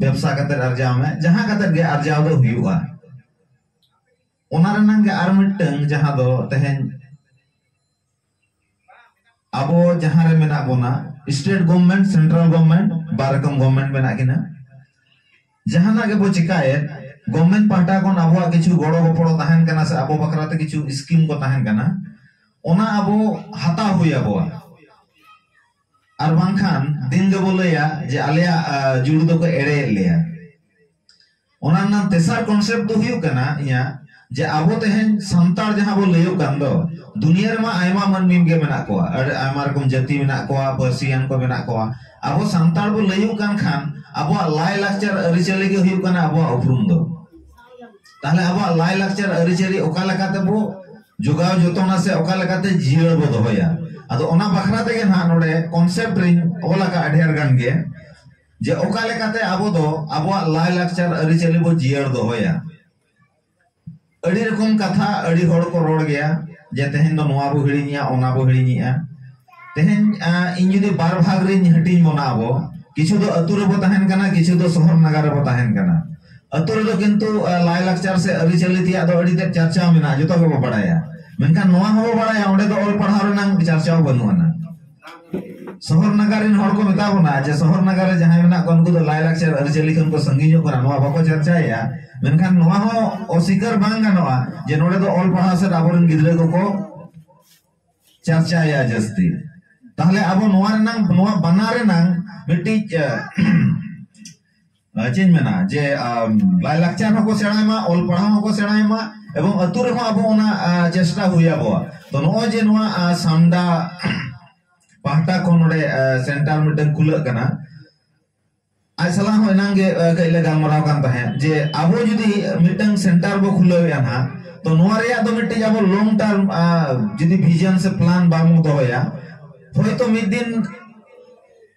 ᱵᱮᱵᱥᱟ ᱠᱟᱛᱮ ᱟᱨᱡᱟᱣ ᱢᱮ ᱡᱟᱦᱟᱸ ᱠᱟᱛᱮ ᱜᱮ ᱟᱨᱡᱟᱣ ᱫᱚ ᱦᱩᱭᱩᱜᱼᱟ ᱚᱱᱟ ᱨᱮᱱᱟᱝ ᱜᱮ ᱟᱨ ᱢᱤᱫᱴᱟᱝ ᱡᱟᱦᱟᱸ ᱫᱚ ᱛᱮᱦᱮᱧ ᱟᱵᱚ ᱡᱟᱦᱟᱸ ᱨᱮ ᱢᱮᱱᱟᱜ ᱵᱚᱱᱟ ᱥᱴᱮᱴ ᱜᱚᱵᱷᱢᱮᱱᱴ ᱥᱮᱱᱴᱨᱟᱞ ᱜᱚᱵᱷᱢᱮᱱᱴ ᱵᱟᱨ ᱨᱚᱠᱚᱢ ᱜᱚᱵᱷᱢᱮᱱᱴ ᱢᱮᱱᱟᱜ ᱠᱤᱱᱟ ᱡᱟᱦᱟᱱᱟᱜ ᱜᱮᱵᱚ ᱪᱤᱠᱟᱭᱮᱫ ᱜᱚᱵᱷᱢᱮᱱᱴ ᱯᱟᱦᱴᱟ ᱠᱷᱚᱱ ᱟᱵᱚᱣᱟᱜ ᱠᱤᱪᱷᱩ ᱜᱚᱲᱚ ᱜᱚᱯᱚᱲᱚ ᱛᱟᱦᱮᱱ ᱠᱟᱱᱟ ᱥᱮ ᱟᱵᱚ ᱵᱟᱠᱷᱨᱟ ᱛᱮ ᱠᱤᱪᱷᱩ ᱥᱠᱤᱢ ᱠᱚ ᱛᱟᱦᱮᱱ ᱠᱟᱱᱟ ᱚᱱᱟ ᱟᱵᱚ ᱦᱟᱛᱟᱣ ᱦᱩᱭ ᱟᱵᱚᱣᱟ ᱟᱨ ᱵᱟᱝᱠᱷᱟᱱ ᱫᱤᱱ ᱜᱮᱵᱚ ᱞᱟᱹᱭᱟ ᱡᱮ ᱟᱞᱮᱭᱟᱜ ᱡᱩᱲᱩ ᱫᱚᱠᱚ ᱮᱲᱮᱭᱮᱫ ᱞᱮᱭᱟ ᱚᱱᱟ ᱨᱮᱱᱟᱜ ᱛᱮᱥᱟᱨ ᱠᱚᱱᱥᱮᱯᱴ ᱫᱚ ᱦᱩᱭᱩᱜ ᱠᱟᱱᱟ ᱤᱧᱟᱹᱜ ᱡᱮ ᱟᱵᱚ ᱛᱮᱦᱮᱧ ᱥᱟᱱᱛᱟᱲ ᱡᱟᱦᱟᱸ ᱵᱚ ᱞᱟᱹᱭᱚᱜ ᱠᱟᱱ ᱫᱚ ᱫᱩᱱᱤᱭᱟᱹ ᱨᱮᱢᱟ ᱟᱭᱢᱟ ᱢᱟᱹᱱᱢᱤ ᱜᱮ ᱢᱮᱱᱟᱜ ᱠᱚᱣᱟ ᱟᱹᱰᱤ ᱟᱭᱢᱟ ᱨᱚᱠᱚᱢ ᱡᱟᱹᱛᱤ ᱢᱮᱱᱟᱜ ᱠᱚᱣᱟ ᱯᱟᱹᱨᱥᱤᱭᱟᱱ ᱠᱚ ᱢᱮᱱᱟᱜ ᱠᱚᱣᱟ ᱟᱵᱚ ᱥᱟᱱᱛᱟᱲ ᱵᱚ ᱞᱟᱹᱭᱚᱜ ᱠᱟᱱ ᱠᱷᱟᱱ ᱟᱵᱚᱣᱟᱜ ᱞᱟᱭ ᱞᱟᱠᱪᱟᱨ ᱟᱹᱨᱤᱪᱟᱹᱞᱤ ᱜᱮ ᱦᱩᱭᱩᱜ ᱠᱟᱱᱟ ᱟᱵᱚᱣᱟᱜ ᱩᱯᱨᱩᱢ ᱫᱚ ᱛᱟᱦᱞᱮ ᱟᱵᱚᱣᱟᱜ ᱞᱟᱭ ᱞᱟᱠᱪᱟᱨ ᱟᱹᱨᱤᱪᱟᱹᱞᱤ ᱚᱠᱟ ᱞᱮᱠᱟ ᱛᱮᱵᱚ ᱡᱚᱜᱟᱣ ᱡᱚᱛᱚᱱᱟ ᱥᱮ ᱚᱠᱟ ᱞᱮᱠᱟ ᱛᱮ ᱡᱤᱭᱟᱹᱲ ᱵᱚ ᱫᱚᱦᱚᱭᱟ ᱟᱫᱚ ᱚᱱᱟ ᱵᱟᱠᱷᱨᱟ ᱛᱮᱜᱮ ᱱᱟᱦᱟᱜ ᱱᱚᱰᱮ ᱠᱚᱱᱥᱮᱯᱴ ᱨᱤᱧ ᱚᱞ ᱟᱠᱟᱫᱼᱟ ᱰᱷᱮᱨ ᱜᱟᱱ ᱜᱮ ᱡᱮ ᱚᱠᱟ ᱞᱮᱠᱟᱛᱮ ᱟᱵᱚ ᱫᱚ ᱟᱵᱚᱣᱟᱜ ᱞᱟᱭ ᱞᱟᱠᱪᱟᱨ ᱟᱹᱨᱤᱪᱟᱹᱞᱤ ᱵᱚ ᱡᱤᱭᱟᱹᱲ ᱫᱚᱦᱚᱭᱟ ᱟᱹᱰᱤ ᱨᱚᱠᱚᱢ ᱠᱟᱛᱷᱟ ᱟᱹᱰᱤ ᱦᱚᱲ ᱠᱚ ᱨᱚᱲ ᱜᱮᱭᱟ ᱡᱮ ᱛᱮᱦᱮᱧ ᱫᱚ ᱱᱚᱣᱟ ᱵᱚ ᱦᱤᱲᱤᱧᱮᱜᱼᱟ ᱚᱱᱟ ᱵᱚ ᱦᱤᱲᱤᱧᱮᱜᱼᱟ ᱛᱮᱦᱮᱧ ᱤᱧ ᱡᱩᱫᱤ ᱵᱟᱨ ᱵᱷᱟᱜᱽ ᱨᱤᱧ ᱦᱟᱹᱴᱤᱧ ᱵᱚᱱᱟ ᱟᱵᱚ ᱠᱤᱪᱷᱩ ᱫᱚ ᱟᱹᱛᱩ ᱨᱮᱵᱚ ᱛᱟᱦᱮᱱ ᱠᱟᱱᱟ ᱠᱤᱪᱷᱩ ᱫᱚ ᱥᱚᱦᱚᱨ ᱱᱟᱜᱟᱨ ᱨᱮᱵᱚ ᱛᱟᱦᱮᱱ ᱠᱟᱱᱟ ᱟᱹᱛᱩ ᱨᱮᱫᱚ ᱠᱤᱱᱛᱩ ᱞᱟᱭ ᱞᱟᱠᱪᱟᱨ ᱥᱮ ᱟᱹᱨᱤᱪᱟᱹᱞᱤ ᱛᱮᱭᱟᱜ ᱫᱚ ᱟᱹᱰᱤ ᱛᱮᱫ ᱪᱟᱨᱪᱟᱣ ᱢᱮᱱᱟᱜᱼᱟ ᱡᱚᱛᱚ ᱜᱮᱵᱚ ᱵᱟᱲᱟᱭᱟ ᱢᱮᱱᱠᱷᱟᱱ ᱱᱚᱣᱟ ᱦᱚᱸᱵᱚ ᱵᱟᱲᱟᱭᱟ ᱚᱸᱰᱮ ᱫᱚ ᱚᱞ ᱯᱟᱲᱦᱟᱣ ᱨᱮᱱᱟᱜ ᱪᱟᱨᱪᱟᱣ ᱵᱟᱹᱱᱩᱜ ᱟᱱᱟ ᱥᱚᱦᱚᱨ ᱱᱟᱜᱟᱨ ᱨᱮᱱ ᱦᱚᱲ ᱠᱚ ᱢᱮᱛᱟ ᱵᱚᱱᱟ ᱡᱮ ᱥᱚᱦᱚᱨ ᱱᱟᱜᱟᱨ ᱨᱮ ᱡᱟᱦᱟᱸᱭ ᱢᱮᱱᱟᱜ ᱠᱚᱣᱟ ᱩᱱᱠᱩ ᱫᱚ ᱞᱟᱭᱼᱞᱟᱠᱪᱟᱨ ᱟᱹᱨᱤᱪᱟᱹᱞᱤ ᱠᱷᱚᱱ ᱠᱚ ᱥᱟᱺᱜᱤᱧᱚᱜ ᱠᱟᱱᱟ ᱱᱚᱣᱟ ᱵᱟᱠᱚ ᱪᱟᱨᱪᱟᱭᱮᱫᱼᱟ ᱢᱮᱱᱠᱷᱟᱱ ᱱᱚᱣᱟ ᱦᱚᱸ ᱚᱥᱤᱠᱟᱨ ᱵᱟᱝ ᱜᱟᱱᱚᱜᱼᱟ ᱡᱮ ᱱᱚᱰᱮ ᱫᱚ ᱚᱞ ᱯᱟᱲᱦᱟᱣ ᱥᱮᱫ ᱟᱵᱚᱨᱮᱱ ᱜᱤᱫᱽᱨᱟᱹ ᱠᱚᱠᱚ ᱪᱟᱨᱪᱟᱭᱮᱫᱼᱟ ᱡᱟᱹᱥᱛᱤ ᱛᱟᱦᱞᱮ ᱟᱵᱚ ᱱᱚᱣᱟ ᱨᱮᱱᱟᱝ ᱱᱚᱣᱟ ᱵᱟᱱᱟ ᱨᱮᱱᱟᱝ ᱢᱤᱫᱴᱤᱡ ᱪᱮᱫ ᱢᱮᱱᱟ ᱡᱮ ᱞᱟᱭᱞᱟᱠᱪᱟᱨ ᱦᱚᱸᱠᱚ ᱥᱮᱬᱟᱭ ᱢᱟ ᱚᱞ ᱯᱟᱲᱦᱟᱣ ᱦᱚᱸᱠᱚ ᱥᱮᱬᱟᱭ ᱢᱟ ᱮᱵᱚᱝ ᱟᱹᱛᱩ ᱨᱮᱦᱚᱸ ᱟᱵᱚ ᱚᱱᱟ ᱪᱮᱥᱴᱟ ᱦᱩᱭ ᱟᱵᱚᱣᱟ ᱛᱚ ᱱᱚᱜᱼᱚᱭ ᱡᱮ ᱱᱚᱣᱟ ᱥᱟᱢᱰᱟ ᱯᱟᱦᱴᱟ ᱠᱷᱚᱱ ᱱᱚᱰᱮ ᱥᱮᱱᱴᱟᱨ ᱢᱤᱫᱴᱟᱝ ᱠᱷᱩᱞᱟᱹᱜ ᱠᱟᱱᱟ ᱟᱡ ᱥᱟᱞᱟᱜ ᱦᱚᱸ ᱮᱱᱟᱝ ᱜᱮ ᱠᱟᱹᱡ ᱞᱮ ᱜᱟᱞᱢᱟᱨᱟᱣ ᱠᱟᱱ ᱛᱟᱦᱮᱸᱫ ᱡᱮ ᱟᱵᱚ ᱡᱩᱫᱤ ᱢᱤᱫᱴᱟᱝ ᱥᱮᱱᱴᱟᱨ ᱵᱚ ᱠᱷᱩᱞᱟᱹᱣᱮᱫᱼᱟ ᱱᱟᱦᱟᱜ ᱛᱚ ᱱᱚᱣᱟ ᱨᱮᱭᱟᱜ ᱫᱚ ᱢᱤᱫᱴᱤᱡ ᱟᱵᱚ ᱞᱚᱝ ᱴᱟᱨᱢ ᱡᱩᱫᱤ ᱵᱷᱤᱡᱚᱱ ᱥᱮ ᱯᱞᱟᱱ ᱵᱟᱵᱚᱱ ᱫᱚᱦᱚᱭᱟ ᱦᱚᱭᱛᱚ ᱢᱤᱫ ᱫᱤᱱ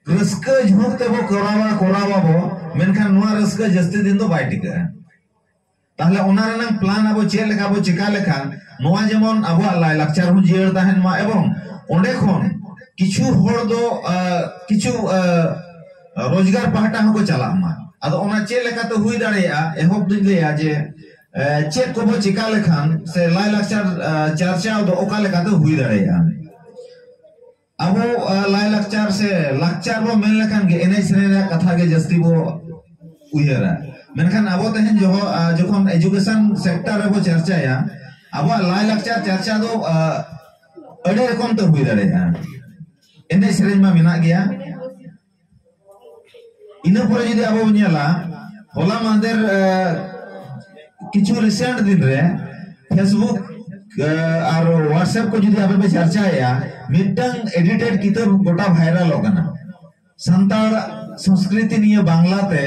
ᱨᱟᱹᱥᱠᱟᱹ ᱡᱷᱩᱸᱠ ᱛᱮᱵᱚ ᱠᱚᱨᱟᱣᱟ ᱠᱚᱨᱟᱣᱟᱵᱚ ᱢᱮᱱᱠᱷᱟᱱ ᱱᱚᱣᱟ ᱨᱟᱹᱥᱠᱟᱹ ᱡᱟᱹᱥᱛᱤ ᱫᱤᱱ ᱫᱚ ᱵᱟᱭ ᱴᱤᱠᱟᱹᱜᱼᱟ ᱛᱟᱦᱞᱮ ᱚᱱᱟ ᱨᱮᱱᱟᱜ ᱯᱞᱟᱱ ᱟᱵᱚ ᱪᱮᱫ ᱞᱮᱠᱟ ᱵᱚ ᱪᱮᱠᱟ ᱞᱮᱠᱷᱟᱱ ᱱᱚᱣᱟ ᱡᱮᱢᱚᱱ ᱟᱵᱚᱣᱟᱜ ᱞᱟᱭᱞᱟᱠᱪᱟᱨ ᱦᱚᱸ ᱡᱤᱭᱟᱹᱲ ᱛᱟᱦᱮᱱ ᱢᱟ ᱮᱵᱚᱝ ᱚᱸᱰᱮ ᱠᱷᱚᱱ ᱠᱤᱪᱷᱩ ᱦᱚᱲ ᱫᱚ ᱠᱤᱪᱷᱩ ᱨᱳᱡᱽᱜᱟᱨ ᱯᱟᱦᱴᱟ ᱦᱚᱸᱠᱚ ᱪᱟᱞᱟᱜ ᱢᱟ ᱟᱫᱚ ᱚᱱᱟ ᱪᱮᱫ ᱞᱮᱠᱟᱛᱮ ᱦᱩᱭ ᱫᱟᱲᱮᱭᱟᱜᱼᱟ ᱮᱦᱚᱵ ᱫᱩᱧ ᱞᱟᱹᱭᱟ ᱡᱮ ᱪᱮᱫ ᱠᱚᱵᱚ ᱪᱮᱠᱟ ᱞᱮᱠᱷᱟᱱ ᱥᱮ ᱞᱟᱭᱞᱟᱠᱪᱟᱨ ᱪᱟᱨᱪᱟᱣ ᱫᱚ ᱚᱠᱟ ᱞᱮᱠᱟᱛᱮ ᱦᱩᱭ ᱫᱟᱲᱮᱭᱟᱜᱼᱟ ᱟᱵᱚ ᱞᱟᱭᱞᱟᱠᱪᱟᱨ ᱥᱮ ᱞᱟᱠᱪᱟᱨ ᱵᱚ ᱢᱮᱱ ᱞᱮᱠᱷᱟᱱ ᱜᱮ ᱮᱱᱮᱡ ᱥᱮᱨᱮᱧ ᱨᱮᱭᱟᱜ ᱠᱟᱛᱷᱟ ᱜᱮ ᱡᱟᱹᱥᱛᱤ ᱵᱚ ᱩᱭᱦᱟᱹᱨᱟ ᱢᱮᱱᱠᱷᱟᱱ ᱟᱵᱚ ᱛᱮᱦᱮᱧ ᱡᱚᱠᱷᱚᱱ ᱮᱡᱩᱠᱮᱥᱚᱱ ᱥᱮᱠᱴᱟᱨ ᱨᱮᱵᱚ ᱪᱟᱨᱪᱟᱭᱟ ᱟᱵᱚᱣᱟᱜ ᱞᱟᱭᱞᱟᱠᱪᱟᱨ ᱪᱟᱨᱪᱟ ᱫᱚ ᱟᱹᱰᱤ ᱨᱚᱠᱚᱢ ᱛᱮ ᱦᱩᱭ ᱫᱟᱲᱮᱭᱟᱜᱼᱟ ᱮᱱᱮᱡ ᱥᱮᱨᱮᱧ ᱢᱟ ᱢᱮᱱᱟᱜ ᱜᱮᱭᱟ ᱤᱱᱟᱹ ᱯᱚᱨᱮ ᱡᱩᱫᱤ ᱟᱵᱚ ᱵᱚᱱ ᱧᱮᱞᱟ ᱦᱚᱞᱟ ᱢᱟᱦᱫᱮᱨ ᱠᱤᱪᱷᱩ ᱨᱤᱥᱮᱱᱴ ᱫᱤᱱ ᱨᱮ ᱯᱷᱮᱥᱵᱩᱠ ᱟᱨ ᱦᱚᱣᱟᱴᱥᱮᱯ ᱠᱚ ᱡᱩᱫᱤ ᱟᱯᱮ ᱯᱮ ᱪᱟᱨᱪᱟᱭᱮᱜᱼᱟ ᱢᱤᱫᱴᱟᱝ ᱮᱰᱤᱴᱮᱰ ᱠᱤᱛᱟᱹᱵ ᱜᱚᱴᱟ ᱵᱷᱟᱭᱨᱟᱞᱚᱜ ᱠᱟᱱᱟ ᱥᱟᱱᱛᱟᱲ ᱥᱚᱝᱥᱠᱨᱤᱛᱤ ᱱᱤᱭᱟᱹ ᱵᱟᱝᱞᱟᱛᱮ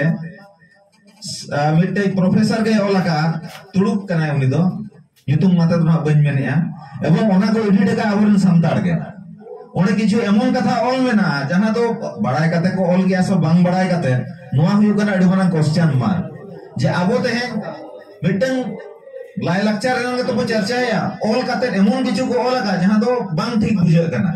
ᱢᱤᱫᱴᱮᱡ ᱯᱨᱚᱯᱷᱮᱥᱚᱨ ᱜᱮ ᱚᱞ ᱟᱠᱟᱫᱼᱟ ᱛᱩᱲᱩᱠ ᱠᱟᱱᱟᱭ ᱩᱱᱤ ᱫᱚ ᱧᱩᱛᱩᱢ ᱢᱟᱛᱮ ᱫᱚ ᱦᱟᱸᱜ ᱵᱟᱹᱧ ᱢᱮᱱᱮᱜᱼᱟ ᱮᱵᱚᱝ ᱚᱱᱟ ᱠᱚ ᱮᱰᱤᱴ ᱟᱠᱟᱫ ᱟᱵᱚᱨᱮᱱ ᱥᱟᱱᱛᱟᱲ ᱜᱮ ᱚᱸᱰᱮ ᱠᱤᱪᱷᱩ ᱮᱢᱚᱱ ᱠᱟᱛᱷᱟ ᱚᱞ ᱢᱮᱱᱟᱜᱼᱟ ᱡᱟᱦᱟᱸ ᱫᱚ ᱵᱟᱲᱟᱭ ᱠᱟᱛᱮ ᱠᱚ ᱚᱞ ᱜᱮᱭᱟ ᱥᱮ ᱵᱟᱝ ᱵᱟᱲᱟᱭ ᱠᱟᱛᱮ ᱱᱚᱣᱟ ᱦᱩᱭᱩᱜ ᱠᱟᱱᱟ ᱟᱹᱰᱤ ᱢᱟᱨᱟᱝ ᱠᱚᱥᱪᱟᱱ ᱢᱟᱨᱠ ᱡᱮ ᱟᱵᱚ ᱛᱮᱦᱮᱧ ᱢᱤᱫᱴᱟᱝ ᱞᱟᱭᱞᱟᱠᱪᱟᱨ ᱨᱮᱱᱟᱜ ᱜᱮᱛᱚ ᱵᱚ ᱪᱟᱨᱪᱟᱭᱟ ᱚᱞ ᱠᱟᱛᱮ ᱮᱢᱚᱱ ᱠᱤᱪᱷᱩ ᱠᱚ ᱚᱞ ᱟᱠᱟᱫ ᱡᱟᱦᱟᱸ ᱫᱚ ᱵᱟᱝ ᱴᱷᱤᱠ ᱵᱩᱡᱷᱟᱹᱜ ᱠᱟᱱᱟ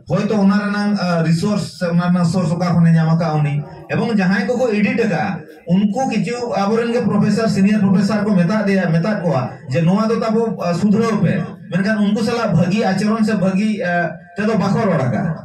ᱦᱚᱭᱛᱚ ᱚᱱᱟ ᱨᱮᱱᱟᱜ ᱨᱤᱥᱳᱨᱥ ᱥᱮ ᱚᱱᱟ ᱨᱮᱱᱟᱜ ᱥᱳᱨᱥ ᱚᱠᱟ ᱠᱷᱚᱱᱮ ᱧᱟᱢ ᱟᱠᱟᱫ ᱩᱱᱤ ᱮᱵᱚᱝ ᱡᱟᱦᱟᱸᱭ ᱠᱚᱠᱚ ᱮᱰᱤᱴ ᱟᱠᱟᱫᱼᱟ ᱩᱱᱠᱩ ᱠᱤᱪᱷᱩ ᱟᱵᱚᱨᱮᱱ ᱜᱮ ᱯᱨᱚᱯᱷᱮᱥᱚᱨ ᱥᱤᱱᱤᱭᱟᱨ ᱯᱨᱚᱯᱷᱮᱥᱚᱨ ᱠᱚ ᱢᱮᱛᱟᱜ ᱫᱮᱭᱟ ᱢᱮᱛᱟᱜ ᱠᱚᱣᱟ ᱡᱮ ᱱᱚᱣᱟ ᱫᱚ ᱛᱟᱵᱚ ᱥᱩᱫᱷᱨᱟᱹᱣ ᱯᱮ ᱢᱮᱱᱠᱷᱟᱱ ᱩᱱᱠᱩ ᱥᱟᱞᱟᱜ ᱵᱷᱟᱹᱜᱤ ᱟᱪᱚᱨᱚᱱ ᱥᱮ ᱵᱷᱟᱹᱜᱤ ᱛᱮᱫᱚ ᱵᱟᱠᱚ ᱨᱚᱲ ᱟᱠᱟᱫᱼᱟ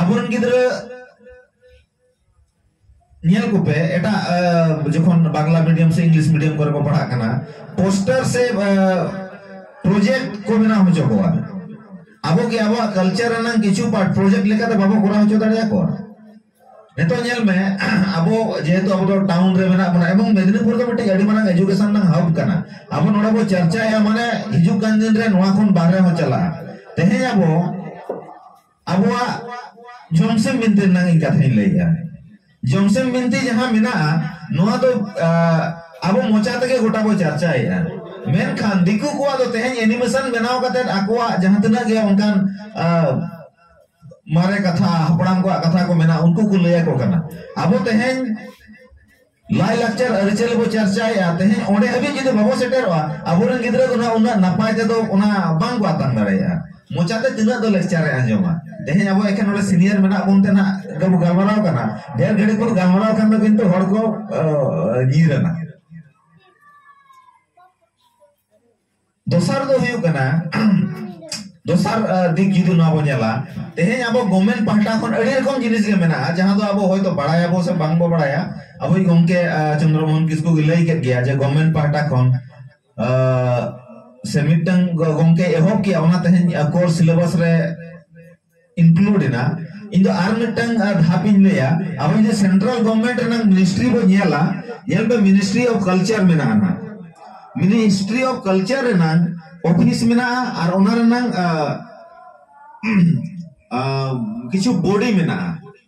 ᱟᱵᱚᱨᱮᱱ ᱜᱤᱫᱽᱨᱟᱹ ᱧᱮᱞ ᱠᱚᱯᱮ ᱮᱴᱟᱜ ᱡᱚᱠᱷᱚᱱ ᱵᱟᱝᱞᱟ ᱢᱤᱰᱤᱭᱟᱢ ᱥᱮ ᱤᱝᱞᱤᱥ ᱢᱤᱰᱤᱭᱟᱢ ᱠᱚᱨᱮ ᱠᱚ ᱯᱟᱲᱦᱟᱜ ᱠᱟᱱᱟ ᱯᱳᱥᱴᱟᱨ ᱥᱮ ᱯᱨᱚᱡᱮᱠᱴ ᱠᱚ ᱵᱮᱱᱟᱣ ᱦᱚᱪᱚ ᱠᱚᱣᱟ ᱟᱵᱚ ᱜᱮ ᱟᱵᱚᱣᱟᱜ ᱠᱟᱞᱪᱟᱨ ᱨᱮᱱᱟᱜ ᱠᱤᱪᱷᱩ ᱯᱟᱨᱴ ᱯᱨᱚᱡᱮᱠᱴ ᱞᱮᱠᱟᱛᱮ ᱵᱟᱵᱚ ᱠᱚᱨᱟᱣ ᱦᱚᱪᱚ ᱫᱟᱲᱮᱭᱟᱠᱚᱣᱟ ᱱᱤᱛᱚᱜ ᱧᱮᱞ ᱢᱮ ᱟᱵᱚ ᱡᱮᱦᱮᱛᱩ ᱟᱵᱚ ᱫᱚ ᱴᱟᱣᱩᱱ ᱨᱮ ᱢᱮᱱᱟᱜ ᱵᱚᱱᱟ ᱮᱵᱚᱝ ᱢᱮᱫᱤᱱᱤᱯᱩᱨ ᱫᱚ ᱢᱤᱫᱴᱤᱡ ᱟᱹᱰᱤ ᱢᱟᱨᱟᱝ ᱮᱡᱩᱠᱮᱥᱚᱱ ᱨᱮᱱᱟᱜ ᱦᱟᱵ ᱠᱟᱱᱟ ᱟᱵᱚ ᱱᱚᱰᱮ ᱵᱚ ᱪᱟᱨᱪᱟᱭᱟ ᱢᱟᱱᱮ ᱦᱤᱡᱩᱜ ᱠᱟᱱ ᱫᱤᱱ ᱨᱮ ᱱᱚᱣᱟ ᱠᱷᱚᱱ ᱵᱟᱦᱨᱮ ᱦᱚᱸ ᱪᱟᱞᱟᱜᱼᱟ ᱛᱮᱦᱮᱧ ᱟᱵᱚ ᱟᱵᱚᱣᱟᱜ ᱡᱚᱢᱥᱮᱢ ᱵᱤᱱᱛᱤ ᱨᱮᱱᱟᱜ ᱤᱧ ᱠᱟᱛᱷᱟᱧ ᱞᱟᱹᱭᱮᱜᱼᱟ ᱡᱚᱢᱥᱮᱢ ᱵᱤᱱᱛᱤ ᱡᱟᱦᱟᱸ ᱢᱮᱱᱟᱜᱼᱟ ᱱᱚᱣᱟ ᱫᱚ ᱟᱵᱚ ᱢᱚᱪᱟ ᱛᱮᱜᱮ ᱜᱚᱴᱟ ᱵᱚ ᱪᱟᱨᱪᱟᱭᱮᱜᱼᱟ ᱢᱮᱱᱠᱷᱟᱱ ᱫᱤᱠᱩ ᱠᱚᱣᱟᱜ ᱫᱚ ᱛᱮᱦᱮᱧ ᱮᱱᱤᱢᱮᱥᱚᱱ ᱵᱮᱱᱟᱣ ᱠᱟᱛᱮ ᱟᱠᱚᱣᱟᱜ ᱡᱟᱦᱟᱸ ᱛᱤᱱᱟᱹᱜ ᱜᱮ ᱚᱱᱠᱟᱱ ᱢᱟᱨᱮ ᱠᱟᱛᱷᱟ ᱦᱟᱯᱲᱟᱢ ᱠᱚᱣᱟᱜ ᱠᱟᱛᱷᱟ ᱠᱚ ᱢᱮᱱᱟ ᱩᱱᱠᱩ ᱠᱚ ᱞᱟᱹᱭᱟ ᱠᱚ ᱠᱟᱱᱟ ᱟᱵᱚ ᱛᱮᱦᱮᱧ ᱞᱟᱭ ᱞᱟᱠᱪᱟᱨ ᱟᱹᱨᱤᱪᱟᱹᱞᱤ ᱵᱚ ᱪᱟᱨᱪᱟᱭᱟ ᱛᱮᱦᱮᱧ ᱚᱸᱰᱮ ᱦᱟᱹᱵᱤᱡ ᱡᱩᱫᱤ ᱵᱟᱵᱚ ᱥᱮᱴᱮᱨᱚᱜᱼᱟ ᱟᱵᱚᱨᱮᱱ ᱜᱤᱫᱽᱨᱟᱹ ᱫᱚ ᱱᱟᱦᱟᱜ ᱩᱱᱟᱹᱜ ᱱᱟᱯᱟᱭ ᱛᱮᱫᱚ ᱚᱱᱟ ᱵᱟᱝ ᱠᱚ ᱟᱛᱟᱝ ᱫᱟᱲᱮᱭᱟᱜᱼᱟ ᱢᱚᱪᱟᱛᱮ ᱛᱤᱱᱟᱹᱜ ᱫᱚ ᱞᱮᱠᱪᱟᱨᱮ ᱟᱸᱡᱚᱢᱟ ᱛᱮᱦᱮᱧ ᱟᱵᱚ ᱮᱠᱷᱮᱱ ᱚᱸᱰᱮ ᱥᱤᱱᱤᱭᱟᱨ ᱢᱮᱱᱟᱜ ᱵᱚᱱ ᱛᱮ ᱱᱟᱦᱟᱜ ᱜᱟᱵᱚ ᱜᱟᱞᱢᱟᱨᱟᱣ ᱠᱟᱱᱟ ᱰᱷᱮᱨ ᱜᱷᱟᱹᱲᱤᱡ ᱵᱚᱱ ᱜᱟᱞᱢᱟᱨᱟᱣ ᱠᱷᱟᱱ ᱫᱚ ᱠᱤᱱᱛᱩ ᱦᱚᱲ ᱠᱚ ᱧᱤᱨᱟᱱᱟ ᱫᱚᱥᱟᱨ ᱫᱚ ᱦᱩᱭᱩᱜ ᱠᱟᱱᱟ ᱫᱚᱥᱟᱨ ᱫᱤᱠ ᱡᱩᱫᱤ ᱱᱚᱣᱟ ᱵᱚᱱ ᱧᱮᱞᱟ ᱛᱮᱦᱮᱧ ᱟᱵᱚ ᱜᱚᱵᱷᱢᱮᱱᱴ ᱯᱟᱦᱴᱟ ᱠᱷᱚᱱ ᱟᱹᱰᱤ ᱨᱚᱠᱚᱢ ᱡᱤᱱᱤᱥ ᱜᱮ ᱢᱮᱱᱟᱜᱼᱟ ᱡᱟᱦᱟᱸ ᱫᱚ ᱟᱵᱚ ᱦᱚᱭᱛᱚ ᱵᱟᱲᱟᱭᱟᱵᱚ ᱥᱮ ᱵᱟᱝ ᱵᱚ ᱵᱟᱲᱟᱭᱟ ᱟᱵᱚᱭ ᱜᱚᱢᱠᱮ ᱪᱚᱱᱫᱨᱚᱢᱳᱦᱚᱱ ᱠᱤᱥᱠᱩ ᱜᱮ ᱞᱟᱹᱭ ᱠᱮᱫ ᱜᱮᱭᱟ ᱡᱮ ᱜᱚᱵᱷᱢᱮᱱᱴ ᱯᱟᱦᱴᱟ ᱠᱷᱚᱱ ᱥᱮ ᱢᱤᱫᱴᱟᱝ ᱜᱚᱢᱠᱮ ᱮᱦᱚᱵ ᱠᱮᱜᱼᱟ ᱚᱱᱟ ᱛᱮᱦᱮᱧ ᱠᱳᱨᱥ ᱥᱤᱞᱮᱵᱟᱥ ᱨᱮ ᱤᱱᱠᱞᱩᱰ ᱮᱱᱟ ᱤᱧ ᱫᱚ ᱟᱨ ᱢᱤᱫᱴᱟᱝ ᱫᱷᱟᱯ ᱤᱧ ᱞᱟᱹᱭᱟ ᱟᱵᱚ ᱡᱩᱫᱤ ᱥᱮᱱᱴᱨᱟᱞ ᱜᱚᱵᱷᱚᱨᱱᱢᱮᱱᱴ ᱨᱮᱱᱟᱜ ᱢᱤᱱᱤᱥᱴᱨᱤ ᱵᱚ ᱧᱮᱞᱟ ᱧᱮᱞ ᱯᱮ ᱢᱤᱱᱤᱥᱴᱨᱤ ᱚᱯᱷ ᱠᱟᱞᱪᱟᱨ ᱢᱮᱱᱟᱜᱼᱟ ᱱᱟᱜ ᱢᱤᱱᱤᱥᱴᱨᱤ ᱚᱯᱷ ᱠᱟᱞᱪᱟᱨ ᱨᱮᱱᱟᱜ ᱚᱯᱷᱤᱥ ᱢᱮᱱᱟᱜᱼᱟ ᱟᱨ ᱚᱱᱟ ᱨᱮᱱᱟᱜ ᱠᱤᱪᱷᱩ ᱵᱚᱰᱤ ᱢᱮᱱᱟᱜᱼᱟ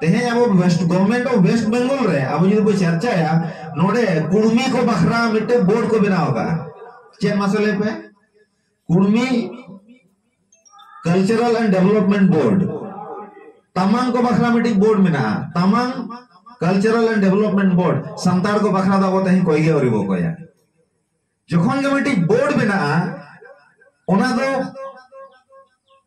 ᱛᱮᱦᱮᱧ ᱟᱵᱚ West government of West Bengal ᱨᱮ ᱟᱵᱚ ᱡᱩᱫᱤ ᱵᱚ ᱪᱟᱨᱪᱟᱭᱟ ᱱᱚᱰᱮ ᱠᱩᱲᱢᱤ ᱠᱚ ᱵᱟᱠᱷᱨᱟ ᱢᱤᱫᱴᱮᱱ ᱵᱳᱨᱰ ᱠᱚ ᱵᱮᱱᱟᱣ ᱟᱠᱟᱫᱼᱟ ᱪᱮᱫ ᱢᱟᱥᱮ ᱞᱟᱹᱭ ᱯᱮ Kurmi cultural and development board ᱛᱟᱢᱟᱝ ᱠᱚ ᱵᱟᱠᱷᱨᱟ ᱢᱤᱫᱴᱤᱡ ᱵᱳᱨᱰ ᱢᱮᱱᱟᱜᱼᱟ ᱛᱟᱢᱟᱝ cultural and development board Santal ᱠᱚ ᱵᱟᱠᱷᱨᱟ ᱫᱚ ᱟᱵᱚ ᱛᱮᱦᱮᱧ ᱠᱚᱭ ᱜᱮ ᱟᱹᱣᱨᱤ ᱵᱚ ᱠᱚᱭᱟ ᱡᱚᱠᱷᱚᱱ ᱜᱮ ᱢᱤᱫᱴᱤᱡ ᱵᱳᱨᱰ ᱵᱮᱱᱟᱜᱼᱟ ᱚᱱᱟ ᱫᱚ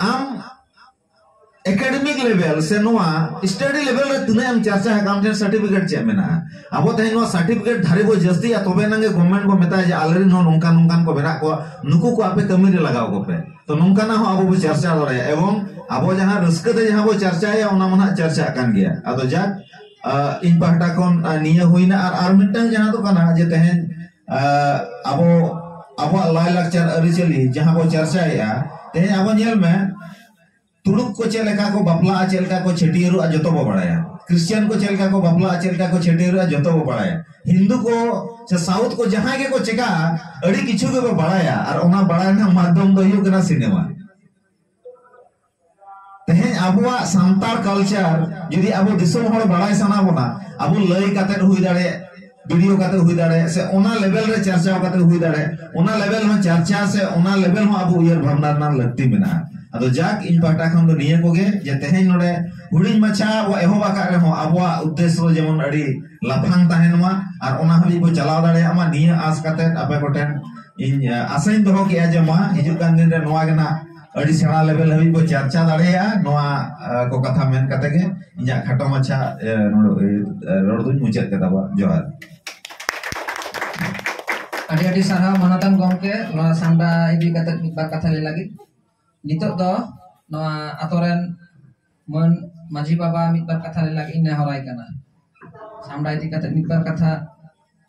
ᱟᱢ ᱮᱠᱟᱰᱮᱢᱤᱠ ᱞᱮᱵᱮᱞ ᱥᱮ ᱱᱚᱣᱟ ᱥᱴᱟᱰᱤ ᱞᱮᱵᱮᱞ ᱨᱮ ᱛᱤᱱᱟᱹᱜ ᱮᱢ ᱪᱟᱨᱪᱟ ᱟᱠᱟᱫ ᱟᱢ ᱴᱷᱮᱱ ᱥᱟᱨᱴᱤᱯᱷᱤᱠᱮᱴ ᱪᱮᱫ ᱢᱮᱱᱟᱜᱼᱟ ᱟᱵᱚ ᱛᱮᱦᱮᱧ ᱱᱚᱣᱟ ᱥᱟᱨᱴᱤᱯᱷᱤᱠᱮᱴ ᱫᱷᱟᱨᱮ ᱵᱚ ᱡᱟᱹᱥᱛᱤᱭᱟ ᱛᱚᱵᱮ ᱮᱱᱟᱝ ᱜᱮ ᱜᱚᱵᱷᱢᱮᱱᱴ ᱵᱚ ᱢᱮᱛᱟᱭᱟ ᱡᱮ ᱟᱞᱮᱨᱮᱱ ᱦᱚᱸ ᱱᱚᱝᱠᱟ ᱱᱚᱝᱠᱟᱱ ᱠᱚ ᱢᱮᱱᱟᱜ ᱠᱚᱣᱟ ᱱᱩᱠᱩ ᱠᱚ ᱟᱯᱮ ᱠᱟᱹᱢᱤ ᱨᱮ ᱞᱟᱜᱟᱣ ᱠᱚᱯᱮ ᱛᱚ ᱱᱚᱝᱠᱟᱱᱟᱜ ᱦᱚᱸ ᱟᱵᱚ ᱵᱚ ᱪᱟᱨᱪᱟ ᱫᱟᱲᱮᱭᱟᱜᱼᱟ ᱮᱵᱚᱝ ᱟᱵᱚ ᱡᱟᱦᱟᱸ ᱨᱟᱹᱥᱠᱟᱹ ᱛᱮ ᱡᱟᱦᱟᱸ ᱵᱚ ᱪᱟᱨᱪᱟᱭᱟ ᱚᱱᱟ ᱢᱟ ᱱᱟᱜ ᱪᱟᱨᱪᱟᱜ ᱠᱟᱱ ᱜᱮᱭᱟ ᱟᱫᱚ ᱡᱟᱠ ᱤᱧ ᱯᱟᱦᱴᱟ ᱠᱷᱚᱱ ᱱᱤᱭᱟᱹ ᱦᱩᱭᱱᱟ ᱟᱨ ᱟᱨ ᱢᱤᱫᱴᱟᱝ ᱡᱟᱦᱟᱸ ᱫᱚ ᱠᱟᱱᱟ ᱡᱮ ᱛᱮᱦᱮᱧ ᱟᱵᱚ ᱟᱵᱚᱣᱟᱜ ᱞᱟᱭᱼᱞᱟᱠᱪᱟᱨ ᱟᱹᱨᱤᱪᱟᱹᱞᱤ ᱡᱟᱦᱟᱸ ᱵᱚ ᱪᱟᱨᱪᱟᱭᱮᱫᱼᱟ ᱛᱮᱦᱮᱧ ᱟᱵᱚ ᱧᱮᱞ ᱢᱮ ᱛᱩᱲᱩᱠ ᱠᱚ ᱪᱮᱫ ᱞᱮᱠᱟ ᱠᱚ ᱵᱟᱯᱞᱟᱜᱼᱟ ᱪᱮᱫ ᱞᱮᱠᱟ ᱠᱚ ᱪᱷᱟᱹᱴᱭᱟᱹᱨᱚᱜᱼᱟ ᱡᱚᱛᱚ ᱵᱚ ᱵᱟᱲᱟᱭᱟ ᱠᱨᱤᱥᱪᱤᱭᱟᱱ ᱠᱚ ᱪᱮᱫ ᱞᱮᱠᱟ ᱠᱚ ᱵᱟᱯᱞᱟᱜᱼᱟ ᱪᱮᱫ ᱞᱮᱠᱟ ᱠᱚ ᱪᱷᱟᱹᱴᱭᱟᱹᱨᱚᱜᱼᱟ ᱡᱚᱛᱚ ᱵᱚ ᱵᱟᱲᱟᱭᱟ ᱦᱤᱱᱫᱩ ᱠᱚ ᱥᱮ ᱥᱟᱣᱩᱛᱷ ᱠᱚ ᱡᱟᱦᱟᱸᱭ ᱜᱮᱠᱚ ᱪᱮᱠᱟᱜᱼᱟ ᱟᱹᱰᱤ ᱠᱤᱪᱷᱩ ᱜᱮᱵᱚ ᱵᱟᱲᱟᱭᱟ ᱟᱨ ᱚᱱᱟ ᱵᱟᱲᱟᱭ ᱨᱮᱱᱟᱜ ᱢᱟᱫᱽᱫᱷᱚᱢ ᱫᱚ ᱦᱩᱭᱩᱜ ᱠᱟᱱᱟ ᱥᱤᱱᱮᱢᱟ ᱛᱮᱦᱮᱧ ᱟᱵᱚᱣᱟᱜ ᱥᱟᱱᱛᱟᱲ ᱠᱟᱞᱪᱟᱨ ᱡᱩᱫᱤ ᱟᱵᱚ ᱫᱤᱥᱚᱢ ᱦᱚᱲ ᱵᱟᱲᱟᱭ ᱥᱟᱱᱟ ᱵᱚᱱᱟ ᱟᱵᱚ ᱞᱟᱹᱭ ᱠᱟᱛᱮ ᱦᱩᱭ ᱫᱟᱲᱮᱭᱟᱜ ᱵᱷᱤᱰᱤᱭᱳ ᱠᱟᱛᱮ ᱦᱩᱭ ᱫᱟᱲᱮᱭᱟᱜ ᱥᱮ ᱚᱱᱟ ᱞᱮᱵᱮᱞ ᱨᱮ ᱪᱟᱨᱪᱟ ᱠᱟᱛᱮ ᱦᱩᱭ ᱫᱟᱲᱮᱭᱟᱜ ᱚᱱᱟ ᱞᱮᱵᱮᱞ ᱦᱚᱸ ᱪᱟᱨᱪᱟ ᱥᱮ ᱚᱱᱟ ᱞᱮᱵᱮᱞ ᱦᱚᱸ ᱟᱵᱚ ᱩᱭᱦᱟᱹᱨ ᱵᱷᱟᱵᱱᱟ ᱨᱮᱱᱟᱜ ᱞᱟᱹᱠᱛᱤ ᱢᱮᱱᱟᱜᱼᱟ ᱟᱫᱚ ᱡᱟᱠ ᱤᱧ ᱯᱟᱦᱴᱟ ᱠᱷᱚᱱ ᱫᱚ ᱱᱤᱭᱟᱹ ᱠᱚᱜᱮ ᱡᱮ ᱛᱮᱦᱮᱧ ᱱᱚᱰᱮ ᱦᱩᱰᱤᱧ ᱢᱟᱪᱷᱟ ᱵᱚ ᱮᱦᱚᱵ ᱟᱠᱟᱫ ᱨᱮᱦᱚᱸ ᱟᱵᱚᱣᱟᱜ ᱩᱫᱽᱫᱮᱥᱥᱚ ᱡᱮᱢᱚᱱ ᱟᱹᱰᱤ ᱞᱟᱯᱷᱟᱝ ᱛᱟᱦᱮᱱ ᱢᱟ ᱟᱨ ᱚᱱᱟ ᱦᱟᱹᱵᱤᱡ ᱵᱚ ᱪᱟᱞᱟᱣ ᱫᱟᱲᱮᱭᱟᱜ ᱢᱟ ᱱᱤᱭᱟᱹ ᱟᱥ ᱠᱟᱛᱮ ᱟᱯᱮ ᱠᱚᱴᱷᱮᱱ ᱤᱧ ᱟᱥᱟᱧ ᱫᱚᱦᱚ ᱠᱮᱜᱼᱟ ᱡᱮ ᱢᱟ ᱦᱤᱡᱩᱜ ᱠᱟᱱ ᱫᱤᱱ ᱨᱮ ᱱᱚᱣᱟ ᱜᱮ ᱱᱟᱜ ᱟᱹᱰᱤ ᱥᱮᱬᱟ ᱞᱮᱵᱮᱞ ᱦᱟᱹᱵᱤᱡ ᱵᱚ ᱪᱟᱨᱪᱟ ᱫᱟᱲᱮᱭᱟᱜᱼᱟ ᱱᱚᱣᱟ ᱠᱚ ᱠᱟᱛᱷᱟ ᱢᱮᱱ ᱠᱟᱛᱮ ᱜᱮ ᱤᱧᱟᱹᱜ ᱠᱷᱟᱴᱚ ᱢᱟᱪᱷᱟ ᱨᱚᱲ ᱫᱩᱧ ᱢᱩᱪᱟᱹᱫ ᱠᱮᱫᱟ ᱵᱟ ᱡᱚᱦᱟᱨ ᱟᱹᱰᱤ ᱟᱹᱰᱤ ᱥᱟᱨᱦᱟᱣ ᱢᱟᱱᱚᱛᱟᱱ ᱜᱚᱢᱠᱮ ᱱᱚᱣᱟ ᱥᱟᱱᱰᱟ ᱤᱫᱤ ᱠᱟᱛᱮ ᱢᱤᱫ ᱵᱟᱨ ᱠᱟᱛᱷᱟ ᱞᱟᱹᱭ ᱞᱟᱹᱜᱤᱫ ᱱᱤᱛᱚᱜ ᱫᱚ ᱱᱚᱣᱟ ᱟᱛᱳ ᱨᱮᱱ ᱢᱟᱹᱱ ᱢᱟᱹᱡᱷᱤ ᱵᱟᱵᱟ ᱢᱤᱫ ᱵᱟᱨ ᱠᱟᱛᱷᱟ ᱞᱟᱹᱭ ᱞᱟᱹᱜᱤᱫ ᱤᱧ ᱱᱮᱦᱚᱨᱟᱭ ᱠᱟᱱᱟ ᱥᱟᱢᱰᱟ ᱤᱫᱤ ᱠᱟᱛᱮ ᱢᱤᱫ ᱵᱟᱨ ᱠᱟᱛᱷᱟ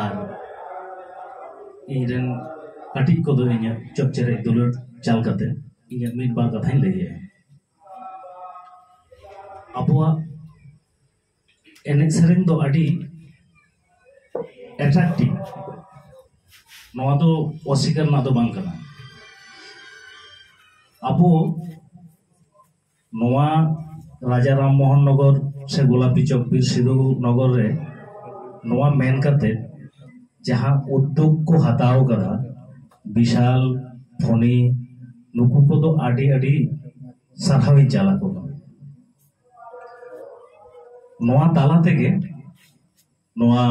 ᱟᱨ ᱤᱧ ᱨᱮᱱ ᱠᱟᱹᱴᱤᱡ ᱠᱚᱫᱚ ᱤᱧᱟᱹᱜ ᱪᱚᱯ ᱪᱮᱨᱮᱡ ᱫᱩᱞᱟᱹᱲ ᱪᱟᱞ ᱠᱟᱛᱮ ᱤᱧᱟᱹᱜ ᱢᱤᱫ ᱵᱟᱨ ᱠᱟᱛᱷᱟᱧ ᱞᱟᱹᱭᱟ ᱟᱵᱚᱣᱟᱜ ᱮᱱᱮᱡ ᱥᱮᱨᱮᱧ ᱫᱚ ᱟᱹᱰᱤ ᱮᱴᱨᱟᱠᱴᱤᱵᱽ ᱱᱚᱣᱟ ᱫᱚ ᱚᱥᱤᱠᱟᱨ ᱨᱮᱱᱟᱜ ᱫᱚ ᱵᱟᱝ ᱠᱟᱱᱟ ᱟᱵᱚ ᱱᱚᱣᱟ ᱨᱟᱡᱟ ᱨᱟᱢ ᱢᱳᱦᱚᱱ ᱱᱚᱜᱚᱨ ᱥᱮ ᱜᱳᱞᱟᱯᱤ ᱪᱚᱠ ᱵᱤᱨ ᱥᱤᱫᱷᱩ ᱱᱚᱜᱚᱨ ᱨᱮ ᱱᱚᱣᱟ ᱢᱮᱱ ᱠᱟᱛᱮ ᱡᱟᱦᱟᱸ ᱩᱫᱽᱫᱳᱜᱽ ᱠᱚ ᱦᱟᱛᱟᱣ ᱠᱟᱫᱟ ᱵᱤᱥᱟᱞ ᱯᱷᱚᱱᱤ ᱱᱩᱠᱩ ᱠᱚᱫᱚ ᱟᱹᱰᱤ ᱟᱹᱰᱤ ᱥᱟᱨᱦᱟᱣᱤᱧ ᱪᱟᱞ ᱟᱠᱚ ᱠᱟᱱᱟ ᱱᱚᱣᱟ ᱛᱟᱞᱟ ᱛᱮᱜᱮ ᱱᱚᱣᱟ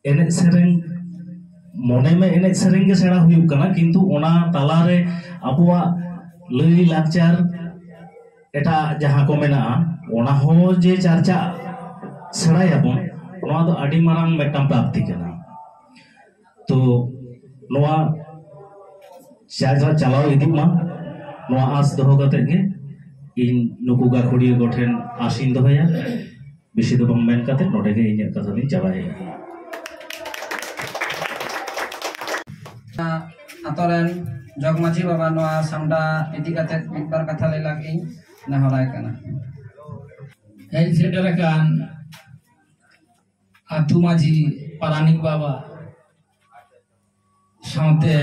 ᱮᱱᱮᱡ ᱥᱮᱨᱮᱧ ᱢᱚᱱᱮ ᱢᱮ ᱮᱱᱮᱡ ᱥᱮᱨᱮᱧ ᱜᱮ ᱥᱮᱬᱟ ᱦᱩᱭᱩᱜ ᱠᱟᱱᱟ ᱠᱤᱱᱛᱩ ᱚᱱᱟ ᱛᱟᱞᱟᱨᱮ ᱟᱵᱚᱣᱟᱜ ᱞᱟᱹᱭ ᱞᱟᱠᱪᱟᱨ ᱮᱴᱟᱜ ᱡᱟᱦᱟᱸ ᱠᱚ ᱢᱮᱱᱟᱜᱼᱟ ᱚᱱᱟ ᱦᱚᱸ ᱡᱮ ᱪᱟᱨᱪᱟᱜ ᱥᱮᱬᱟᱭᱟᱵᱚᱱ ᱱᱚᱣᱟ ᱫᱚ ᱟᱹᱰᱤ ᱢᱟᱨᱟᱝ ᱢᱤᱫᱴᱟᱝ ᱯᱨᱟᱯᱛᱤ ᱠᱟᱱᱟ ᱛᱚ ᱱᱚᱣᱟ ᱡᱟᱭᱜᱟ ᱪᱟᱞᱟᱣ ᱤᱫᱤᱜ ᱢᱟ ᱱᱚᱣᱟ ᱟᱸᱥ ᱫᱚᱦᱚ ᱠᱟᱛᱮ ᱜᱮ ᱤᱧ ᱱᱩᱠᱩ ᱜᱟᱹᱠᱷᱩᱲᱤᱭᱟᱹ ᱠᱚᱴᱷᱮᱱ ᱟᱸᱥᱤᱧ ᱫᱚᱦᱚᱭᱟ ᱵᱮᱥᱤ ᱫᱚ ᱵᱟᱝ ᱢᱮᱱ ᱠᱟᱛᱮ ᱱᱚᱰᱮ ᱜᱮ ᱤᱧᱟᱹᱜ ᱠᱟᱛᱷᱟ ᱫᱚᱧ ᱪᱟᱵᱟᱭᱮᱫᱟ ᱟᱛᱳ ᱨᱮᱱ ᱡᱚᱜᱽ ᱢᱟᱺᱡᱷᱤ ᱵᱟᱵᱟ ᱱᱚᱣᱟ ᱥᱟᱢᱰᱟ ᱤᱫᱤ ᱠᱟᱛᱮ ᱢᱤᱫ ᱵᱟᱨ ᱠᱟᱛᱷᱟ ᱞᱟᱹᱭ ᱞᱟᱹᱜᱤᱫ ᱤᱧ ᱱᱮᱦᱚᱨᱟᱭ ᱠᱟᱱᱟ ᱦᱮᱡ ᱥᱮᱴᱮᱨ ᱟᱠᱟᱱ ᱟᱛᱩ ᱢᱟᱹᱡᱷᱤ ᱯᱟᱨᱟᱱᱤᱠ ᱵᱟᱵᱟ ᱥᱟᱶᱛᱮ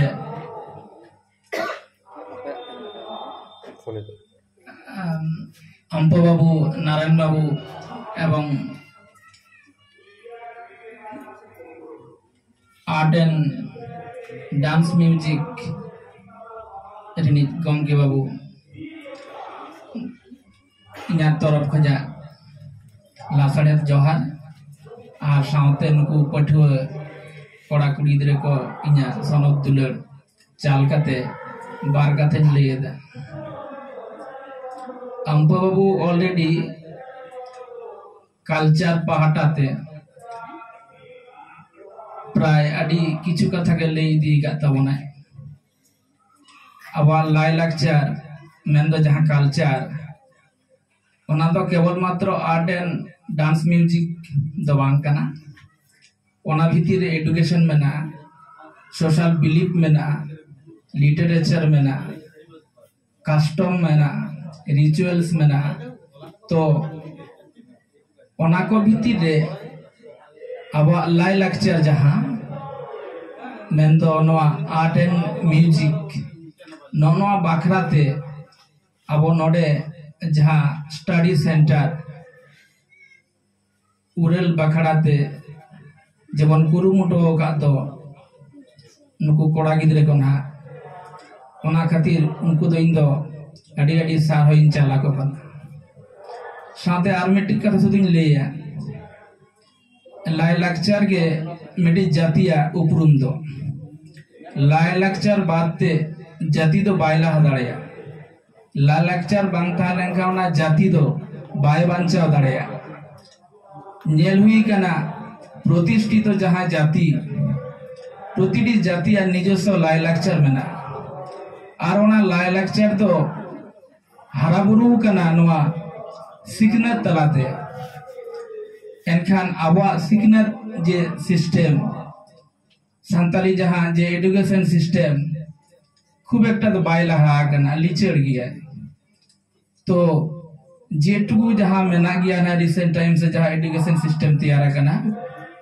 ᱟᱢᱯᱚ ᱵᱟᱵᱩ ᱱᱟᱨᱟᱭᱚᱱ ᱵᱟᱵᱩ ᱮᱵᱚᱝ ᱟᱨᱴ ᱮᱱᱰ ᱰᱟᱱᱥ ᱢᱤᱭᱩᱡᱤᱠ ᱨᱤᱱᱤᱡ ᱜᱚᱢᱠᱮ ᱵᱟᱹᱵᱩ ᱤᱧᱟᱹᱜ ᱛᱚᱨᱚᱯ ᱠᱷᱚᱱᱟᱜ ᱞᱟᱥᱟᱲᱦᱮᱫ ᱡᱚᱦᱟᱨ ᱟᱨ ᱥᱟᱶᱛᱮ ᱱᱩᱠᱩ ᱯᱟᱹᱴᱷᱩᱣᱟᱹ ᱠᱚᱲᱟ ᱠᱩᱲᱤ ᱜᱤᱫᱽᱨᱟᱹ ᱠᱚ ᱤᱧᱟᱹᱜ ᱥᱚᱱᱚᱛ ᱫᱩᱞᱟᱹᱲ ᱪᱟᱞ ᱠᱟᱛᱮ ᱵᱟᱨ ᱠᱟᱛᱷᱟᱧ ᱞᱟᱹᱭᱮᱫᱟ ᱟᱢᱯᱟ ᱵᱟᱹᱵᱩ ᱚᱞᱨᱮᱰᱤ ᱠᱟᱞᱪᱟᱨ ᱯᱟᱦᱴᱟ ᱛᱮ ᱯᱨᱟᱭ ᱟᱹᱰᱤ ᱠᱤᱪᱷᱩ ᱠᱟᱛᱷᱟ ᱜᱮ ᱞᱟᱹᱭ ᱤᱫᱤ ᱟᱠᱟᱫ ᱛᱟᱵᱚᱱᱟᱭ ᱟᱵᱚᱣᱟᱜ ᱞᱟᱭᱞᱟᱠᱪᱟᱨ ᱢᱮᱱᱫᱚ ᱡᱟᱦᱟᱸ ᱠᱟᱞᱪᱟᱨ ᱚᱱᱟ ᱫᱚ ᱠᱮᱵᱚᱞ ᱢᱟᱛᱨᱚ ᱟᱨᱴ ᱮᱱᱰ ᱰᱟᱱᱥ ᱢᱤᱭᱩᱡᱤᱠ ᱫᱚ ᱵᱟᱝ ᱠᱟᱱᱟ ᱚᱱᱟ ᱵᱷᱤᱛᱤᱨ ᱨᱮ ᱮᱰᱩᱠᱮᱥᱚᱱ ᱢᱮᱱᱟᱜᱼᱟ ᱥᱳᱥᱟᱞ ᱵᱤᱞᱤᱯ ᱢᱮᱱᱟᱜᱼᱟ ᱞᱤᱴᱟᱨᱮᱪᱟᱨ ᱢᱮᱱᱟᱜᱼᱟ ᱠᱟᱥᱴᱚᱢ ᱢᱮᱱᱟᱜᱼᱟ ᱨᱤᱪᱩᱭᱮᱞᱥ ᱢᱮᱱᱟᱜᱼᱟ ᱛᱚ ᱚᱱᱟ ᱠᱚ ᱵᱷᱤᱛᱤᱨ ᱨᱮ ᱟᱵᱚᱣᱟᱜ ᱞᱟᱭ ᱞᱟᱠᱪᱟᱨ ᱡᱟᱦᱟᱸ ᱢᱮᱱᱫᱚ ᱱᱚᱣᱟ ᱟᱨᱴ ᱮᱱᱰ ᱢᱤᱭᱩᱡᱤᱠ ᱱᱚᱜᱼᱚ ᱱᱚᱣᱟ ᱵᱟᱠᱷᱨᱟ ᱛᱮ ᱟᱵᱚ ᱱᱚᱰᱮ ᱡᱟᱦᱟᱸ ᱥᱴᱟᱰᱤ ᱥᱮᱱᱴᱟᱨ ᱩᱨᱟᱹᱞ ᱵᱟᱠᱷᱨᱟ ᱛᱮ ᱡᱮᱢᱚᱱ ᱠᱩᱨᱩᱢᱩᱴᱩ ᱟᱠᱟᱫ ᱫᱚ ᱱᱩᱠᱩ ᱠᱚᱲᱟ ᱜᱤᱫᱽᱨᱟᱹ ᱠᱚ ᱱᱟᱦᱟᱜ ᱚᱱᱟ ᱠᱷᱟᱹᱛᱤᱨ ᱩᱱᱠᱩ ᱫᱚ ᱤᱧ ᱫᱚ ᱟᱹᱰᱤ ᱟᱹᱰᱤ ᱥᱟᱨᱦᱟᱣ ᱤᱧ ᱪᱟᱞ ᱟᱠᱚ ᱠᱟᱱᱟ ᱥᱟᱶᱛᱮ ᱟᱨ ᱢᱤᱫᱴᱤᱡ ᱠᱟᱛᱷᱟ ᱥᱩᱫᱩᱧ ᱞᱟᱹᱭᱟ ᱞᱟᱭᱼᱞᱟᱠᱪᱟᱨ ᱜᱮ ᱢᱤᱫᱴᱤᱡ ᱡᱟᱹᱛᱤᱭᱟᱜ ᱩᱯᱨᱩᱢ ᱫᱚ ᱞᱟᱭᱼᱞᱟᱠᱪᱟᱨ ᱵᱟᱫ ᱛᱮ ᱡᱟᱹᱛᱤ ᱫᱚ ᱵᱟᱭ ᱞᱟᱦᱟ ᱫᱟᱲᱮᱭᱟᱜᱼᱟ ᱞᱟᱭᱼᱞᱟᱠᱪᱟᱨ ᱵᱟᱝ ᱛᱟᱦᱮᱸ ᱞᱮᱱᱠᱷᱟᱱ ᱚᱱᱟ ᱡᱟᱹᱛᱤ ᱫᱚ ᱵᱟᱭ ᱵᱟᱧᱪᱟᱣ ᱫᱟᱲᱮᱭᱟᱜᱼᱟ ᱧᱮᱞ ᱦᱩᱭ ᱠᱟᱱᱟ ᱯᱨᱚᱛᱤᱥᱴᱷᱤᱛᱚ ᱡᱟᱦᱟᱸ ᱡᱟᱹᱛᱤ ᱯᱨᱚᱛᱤᱴᱤ ᱡᱟᱹᱛᱤᱭᱟᱜ ᱱᱤᱡᱚᱥᱥᱚ ᱞᱟᱭᱼᱞᱟᱠᱪᱟᱨ ᱢᱮᱱᱟᱜᱼᱟ ᱟᱨ ᱚᱱᱟ ᱞᱟᱭᱼᱞᱟᱠᱪᱟᱨ ᱫᱚ ᱦᱟᱨᱟ ᱵᱩᱨᱩ ᱠᱟᱱᱟ ᱱᱚᱣᱟ ᱥᱤᱠᱷᱱᱟᱹᱛ ᱛᱟᱞᱟᱛᱮ ᱮᱱᱠᱷᱟᱱ ᱟᱵᱚᱣᱟᱜ ᱥᱤᱠᱷᱱᱟᱹᱛ ᱡᱮ ᱥᱤᱥᱴᱮᱢ ᱥᱟᱱᱛᱟᱞᱤ ᱡᱟᱦᱟᱸ ᱡᱮ ᱮᱰᱩᱠᱮᱥᱚᱱ ᱥᱤᱥᱴᱮᱢ ᱠᱷᱩᱵ ᱮᱠᱴᱟ ᱫᱚ ᱵᱟᱭ ᱞᱟᱦᱟ ᱟᱠᱟᱱᱟ ᱞᱤᱪᱟᱹᱲ ᱜᱮᱭᱟ ᱛᱚ ᱡᱮᱴᱩᱠᱩ ᱡᱟᱦᱟᱸ ᱢᱮᱱᱟᱜ ᱜᱮᱭᱟ ᱱᱟ ᱨᱤᱥᱮᱱᱴ ᱴᱟᱭᱤᱢ ᱥᱮ ᱡᱟᱦᱟᱸ ᱮᱰᱩᱠᱮᱥᱚᱱ ᱥᱤᱥᱴᱮᱢ ᱛᱮᱭᱟᱨ ᱟᱠᱟᱱᱟ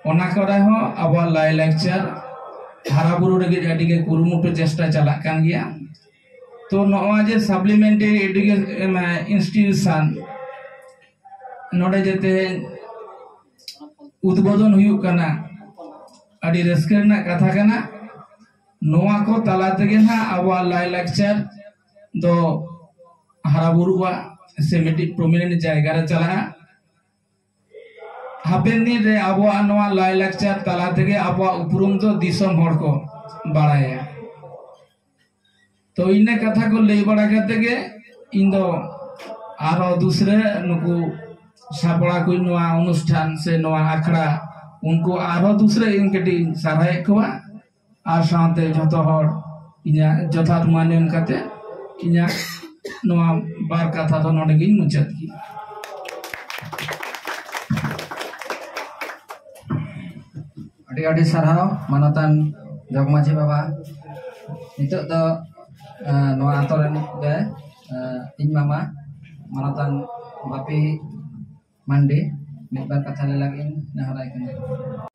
ᱚᱱᱟ ᱠᱚᱨᱮ ᱦᱚᱸ ᱟᱵᱚᱣᱟᱜ ᱞᱟᱭ ᱞᱟᱠᱪᱟᱨ ᱦᱟᱨᱟ ᱵᱩᱨᱩ ᱞᱟᱹᱜᱤᱫ ᱟᱹᱰᱤ ᱜᱮ ᱠᱩᱨᱩᱢᱩᱴᱩ ᱪᱮᱥᱴᱟ ᱪᱟᱞᱟᱜ ᱠᱟᱱ ᱜᱮᱭᱟ ᱛᱚ ᱱᱚᱜᱼᱚᱭ ᱡᱮ ᱥᱟᱯᱞᱤᱢᱮᱱᱴᱟᱨᱤ ᱮᱰᱩᱠᱮᱥᱚᱱ ᱤᱱᱥᱴᱤᱴᱤᱭᱩᱥᱚᱱ ᱱᱚᱰᱮ ᱡᱮ ᱛᱮᱦᱮᱧ ᱩᱫᱽᱵᱳᱫᱚᱱ ᱦᱩᱭᱩᱜ ᱠᱟᱱᱟ ᱟᱹᱰᱤ ᱨᱟᱹᱥᱠᱟᱹ ᱨᱮᱱᱟᱜ ᱠᱟᱛᱷᱟ ᱠᱟᱱᱟ ᱱᱚᱣᱟ ᱠᱚ ᱛᱟᱞᱟ ᱛᱮᱜᱮ ᱱᱟᱜ ᱟᱵᱚᱣᱟᱜ ᱞᱟᱭᱼᱞᱟᱠᱪᱟᱨ ᱫᱚ ᱦᱟᱨᱟ ᱵᱩᱨᱩᱜᱼᱟ ᱥᱮ ᱢᱤᱫᱴᱤᱡ ᱯᱨᱚᱢᱤᱱᱮᱱᱴ ᱡᱟᱭᱜᱟ ᱨᱮ ᱪᱟᱞᱟᱜᱼᱟ ᱦᱟᱯᱮᱱ ᱫᱤᱱ ᱨᱮ ᱟᱵᱚᱣᱟᱜ ᱱᱚᱣᱟ ᱞᱟᱭᱼᱞᱟᱠᱪᱟᱨ ᱛᱟᱞᱟ ᱛᱮᱜᱮ ᱟᱵᱚᱣᱟᱜ ᱩᱯᱨᱩᱢ ᱫᱚ ᱫᱤᱥᱚᱢ ᱦᱚᱲ ᱠᱚ ᱵᱟᱲᱟᱭᱟ ᱛᱚ ᱤᱱᱟᱹ ᱠᱟᱛᱷᱟ ᱠᱚ ᱞᱟᱹᱭ ᱵᱟᱲᱟ ᱠᱟᱛᱮ ᱜᱮ ᱤᱧ ᱫᱚ ᱟᱨᱚ ᱫᱩᱥᱨᱟᱹ ᱱᱩᱠᱩ ᱥᱟᱯᱲᱟ ᱠᱚ ᱱᱚᱣᱟ ᱚᱱᱩᱥᱴᱷᱟᱱ ᱥᱮ ᱱᱚᱣᱟ ᱟᱠᱷᱲᱟ ᱩᱱᱠᱩ ᱟᱨᱚ ᱫᱩᱥᱨᱟᱹ ᱤᱧ ᱠᱟᱹᱴᱤᱡ ᱥᱟᱨᱦᱟᱣᱮᱫ ᱠᱚᱣᱟ ᱟᱨ ᱥᱟᱶᱛᱮ ᱡᱚᱛᱚ ᱦᱚᱲ ᱤᱧᱟᱹᱜ ᱡᱚᱛᱷᱟᱛ ᱢᱟᱱ ᱮᱢ ᱠᱟᱛᱮ ᱤᱧᱟᱹᱜ ᱱᱚᱣᱟ ᱵᱟᱨ ᱠᱟᱛᱷᱟ ᱫᱚ ᱱᱚᱰᱮ ᱜᱤᱧ ᱢᱩᱪᱟᱹᱫ ᱠᱮᱫᱟ ᱟᱹᱰᱤ ᱟᱹᱰᱤ ᱥᱟᱨᱦᱟᱣ ᱢᱟᱱᱚᱛᱟᱱ ᱡᱚᱜᱽ ᱢᱟᱹᱡᱷᱤ ᱵᱟᱵᱟ ᱱᱤᱛᱚᱜ ᱫᱚ ᱱᱚᱣᱟ ᱟᱛᱳ ᱨᱮᱱ ᱜᱮ ᱤᱧ ᱢᱟᱢᱟ ᱢᱟᱱᱚᱛᱟᱱ ᱵᱟᱯᱤ ᱢᱟᱱᱰᱤ ᱢᱤᱫ ᱵᱟᱨ ᱠᱟᱛᱷᱟ ᱞᱟᱹᱭ ᱞᱟᱹᱜᱤᱫ ᱤᱧ ᱱᱮᱦᱚᱨᱟᱭ ᱠᱟᱱᱟ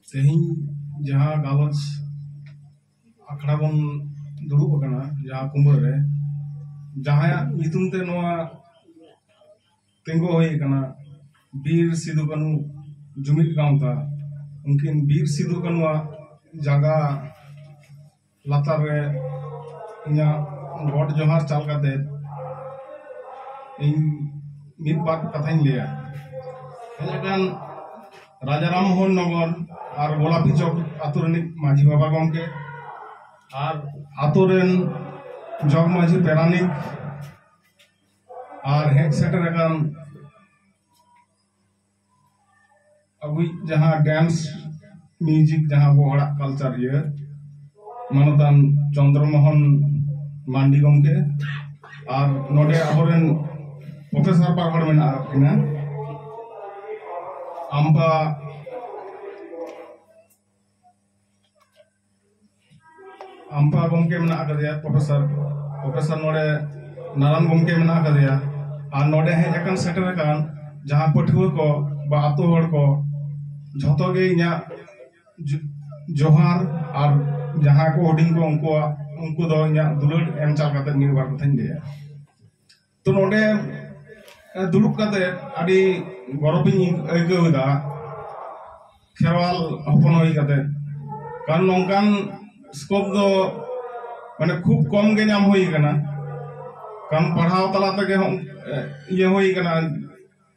ᱛᱮᱦᱮᱧ ᱡᱟᱦᱟᱸ ᱜᱟᱞᱚᱪ ᱟᱠᱷᱲᱟ ᱵᱚᱱ ᱫᱩᱲᱩᱵ ᱟᱠᱟᱱᱟ ᱡᱟᱦᱟᱸ ᱠᱩᱢᱵᱟᱹ ᱨᱮ ᱡᱟᱦᱟᱸᱭᱟᱜ ᱧᱩᱛᱩᱢ ᱛᱮ ᱱᱚᱣᱟ ᱛᱤᱸᱜᱩ ᱦᱩᱭ ᱟᱠᱟᱱᱟ ᱵᱤᱨ ᱥᱤᱫᱩ ᱠᱟᱹᱱᱩ ᱡᱩᱢᱤᱫ ᱜᱟᱶᱛᱟ ᱩᱱᱠᱤᱱ ᱵᱤᱨ ᱥᱤᱫᱩ ᱠᱟᱹᱱᱩᱣᱟᱜ ᱡᱟᱸᱜᱟ ᱞᱟᱛᱟᱨ ᱨᱮ ᱤᱧᱟᱹᱜ ᱜᱚᱰ ᱡᱚᱦᱟᱨ ᱪᱟᱞ ᱠᱟᱛᱮ ᱤᱧ ᱢᱤᱫ ᱵᱟᱨ ᱠᱟᱛᱷᱟᱧ ᱞᱟᱹᱭᱟ ᱦᱮᱡ ᱟᱠᱟᱱ ᱨᱟᱡᱟ ᱨᱟᱢ ᱢᱳᱦᱚᱱ ᱱᱚᱜᱚᱨ ᱟᱨ ᱜᱳᱞᱟᱯᱤ ᱪᱚᱠ ᱟᱛᱳ ᱨᱤᱱᱤᱡ ᱢᱟᱹᱡᱷᱤ ᱵᱟᱵᱟ ᱜᱚᱢᱠᱮ ᱟᱨ ᱟᱛᱳ ᱨᱮᱱ ᱡᱚᱜᱽ ᱢᱟᱹᱡᱷᱤ ᱯᱮᱨᱟᱱᱤᱠ ᱟᱨ ᱦᱮᱡ ᱥᱮᱴᱮᱨ ᱟᱠᱟᱱ ᱟᱵᱚᱭᱤᱡ ᱡᱟᱦᱟᱸ ᱰᱮᱱᱥ ᱢᱤᱭᱩᱡᱤᱠ ᱡᱟᱦᱟᱸ ᱟᱵᱚ ᱦᱚᱲᱟᱜ ᱠᱟᱞᱪᱟᱨ ᱤᱭᱟᱹ ᱢᱟᱱᱚᱛᱟᱱ ᱪᱚᱱᱫᱨᱚ ᱢᱳᱦᱚᱱ ᱢᱟᱱᱰᱤ ᱜᱚᱢᱠᱮ ᱟᱨ ᱱᱚᱰᱮ ᱟᱵᱚᱨᱮᱱ ᱯᱨᱚᱯᱷᱮᱥᱚᱨ ᱵᱟᱨ ᱦᱚᱲ ᱢᱮᱱᱟᱜ ᱟᱠᱟᱫ ᱠᱤᱱᱟ ᱟᱢᱵᱟ ᱟᱢᱯᱟ ᱜᱚᱢᱠᱮ ᱢᱮᱱᱟᱜ ᱟᱠᱟᱫᱮᱭᱟ ᱯᱨᱚᱯᱷᱮᱥᱚᱨ ᱯᱨᱚᱯᱷᱮᱥᱚᱨ ᱱᱚᱰᱮ ᱱᱟᱨᱟᱱ ᱜᱚᱢᱠᱮ ᱢᱮᱱᱟᱜ ᱟᱠᱟᱫᱮᱭᱟ ᱟᱨ ᱱᱚᱰᱮ ᱦᱮᱡ ᱟᱠᱟᱱ ᱥᱮᱴᱮᱨ ᱟᱠᱟᱱ ᱡᱟᱦᱟᱸ ᱯᱟᱹᱴᱷᱩᱣᱟᱹ ᱠᱚ ᱵᱟ ᱟᱛᱳ ᱦᱚᱲ ᱠᱚ ᱡᱷᱚᱛᱚ ᱜᱮ ᱤᱧᱟᱹᱜ ᱡᱚᱦᱟᱨ ᱟᱨ ᱡᱟᱦᱟᱸ ᱠᱚ ᱦᱩᱰᱤᱧ ᱠᱚ ᱩᱱᱠᱩᱣᱟᱜ ᱩᱱᱠᱩ ᱫᱚ ᱤᱧᱟᱹᱜ ᱫᱩᱞᱟᱹᱲ ᱮᱢ ᱪᱟᱞ ᱠᱟᱛᱮ ᱢᱤᱫ ᱵᱟᱨ ᱠᱟᱛᱷᱟᱧ ᱞᱟᱹᱭᱟ ᱛᱚ ᱱᱚᱰᱮ ᱫᱩᱲᱩᱵ ᱠᱟᱛᱮ ᱟᱹᱰᱤ ᱜᱚᱨᱚᱵᱤᱧ ᱟᱹᱭᱠᱟᱹᱣ ᱮᱫᱟ ᱠᱷᱮᱨᱣᱟᱞ ᱦᱚᱯᱚᱱ ᱦᱩᱭ ᱠᱟᱛᱮ ᱠᱟᱨᱚᱱ ᱱᱚᱝᱠᱟᱱ ᱥᱠᱳᱯ ᱫᱚ ᱢᱟᱱᱮ ᱠᱷᱩᱵ ᱠᱚᱢ ᱜᱮ ᱧᱟᱢ ᱦᱩᱭ ᱠᱟᱱᱟ ᱠᱟᱨᱚᱱ ᱯᱟᱲᱦᱟᱣ ᱛᱟᱞᱟ ᱛᱮᱜᱮ ᱤᱭᱟᱹ ᱦᱩᱭ ᱠᱟᱱᱟ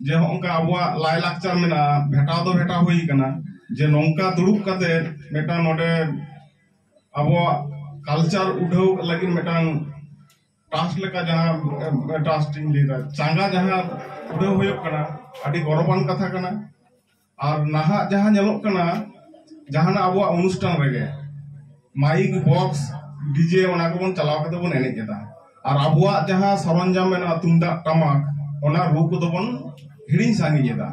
ᱡᱮ ᱦᱚᱸᱜᱼᱚᱝᱠᱟ ᱟᱵᱚᱣᱟᱜ ᱞᱟᱭ ᱞᱟᱠᱪᱟᱨ ᱢᱮᱱᱟᱜᱼᱟ ᱵᱷᱮᱴᱟᱣ ᱫᱚ ᱵᱷᱮᱴᱟᱣ ᱦᱩᱭ ᱠᱟᱱᱟ ᱡᱮ ᱱᱚᱝᱠᱟ ᱫᱩᱲᱩᱵ ᱠᱟᱛᱮ ᱢᱤᱫᱴᱟᱝ ᱱᱚᱰᱮ ᱟᱵᱚᱣᱟᱜ ᱠᱟᱞᱪᱟᱨ ᱩᱰᱷᱟᱹᱣ ᱞᱟᱹᱜᱤᱫ ᱢᱤᱫᱴᱟᱝ ᱴᱟᱥ ᱞᱮᱠᱟ ᱡᱟᱦᱟᱸ ᱴᱟᱥ ᱤᱧ ᱞᱟᱹᱭᱫᱟ ᱪᱟᱸᱜᱟ ᱡᱟᱦᱟᱸ ᱩᱰᱟᱹᱣ ᱦᱩᱭᱩᱜ ᱠᱟᱱᱟ ᱟᱹᱰᱤ ᱜᱚᱨᱚᱵᱟᱱ ᱠᱟᱛᱷᱟ ᱠᱟᱱᱟ ᱟᱨ ᱱᱟᱦᱟᱜ ᱡᱟᱦᱟᱸ ᱧᱮᱞᱚᱜ ᱠᱟᱱᱟ ᱡᱟᱦᱟᱱᱟᱜ ᱟᱵᱚᱣᱟᱜ ᱚᱱᱩᱥᱴᱷᱟᱱ ᱨᱮᱜᱮ ᱢᱟᱭᱤᱠ ᱵᱚᱠᱥ ᱰᱤᱡᱮ ᱚᱱᱟ ᱠᱚᱵᱚᱱ ᱪᱟᱞᱟᱣ ᱠᱟᱛᱮ ᱵᱚᱱ ᱮᱱᱮᱡ ᱮᱫᱟ ᱟᱨ ᱟᱵᱚᱣᱟᱜ ᱡᱟᱦᱟᱸ ᱥᱚᱨᱚᱧᱡᱟᱢ ᱢᱮᱱᱟᱜᱼᱟ ᱛᱩᱢᱫᱟᱜ ᱴᱟᱢᱟᱠ ᱚᱱᱟ ᱨᱩ ᱠᱚᱫᱚ ᱵᱚᱱ ᱦᱤᱲᱤᱧ ᱥᱟᱺᱜᱤᱧ ᱮᱫᱟ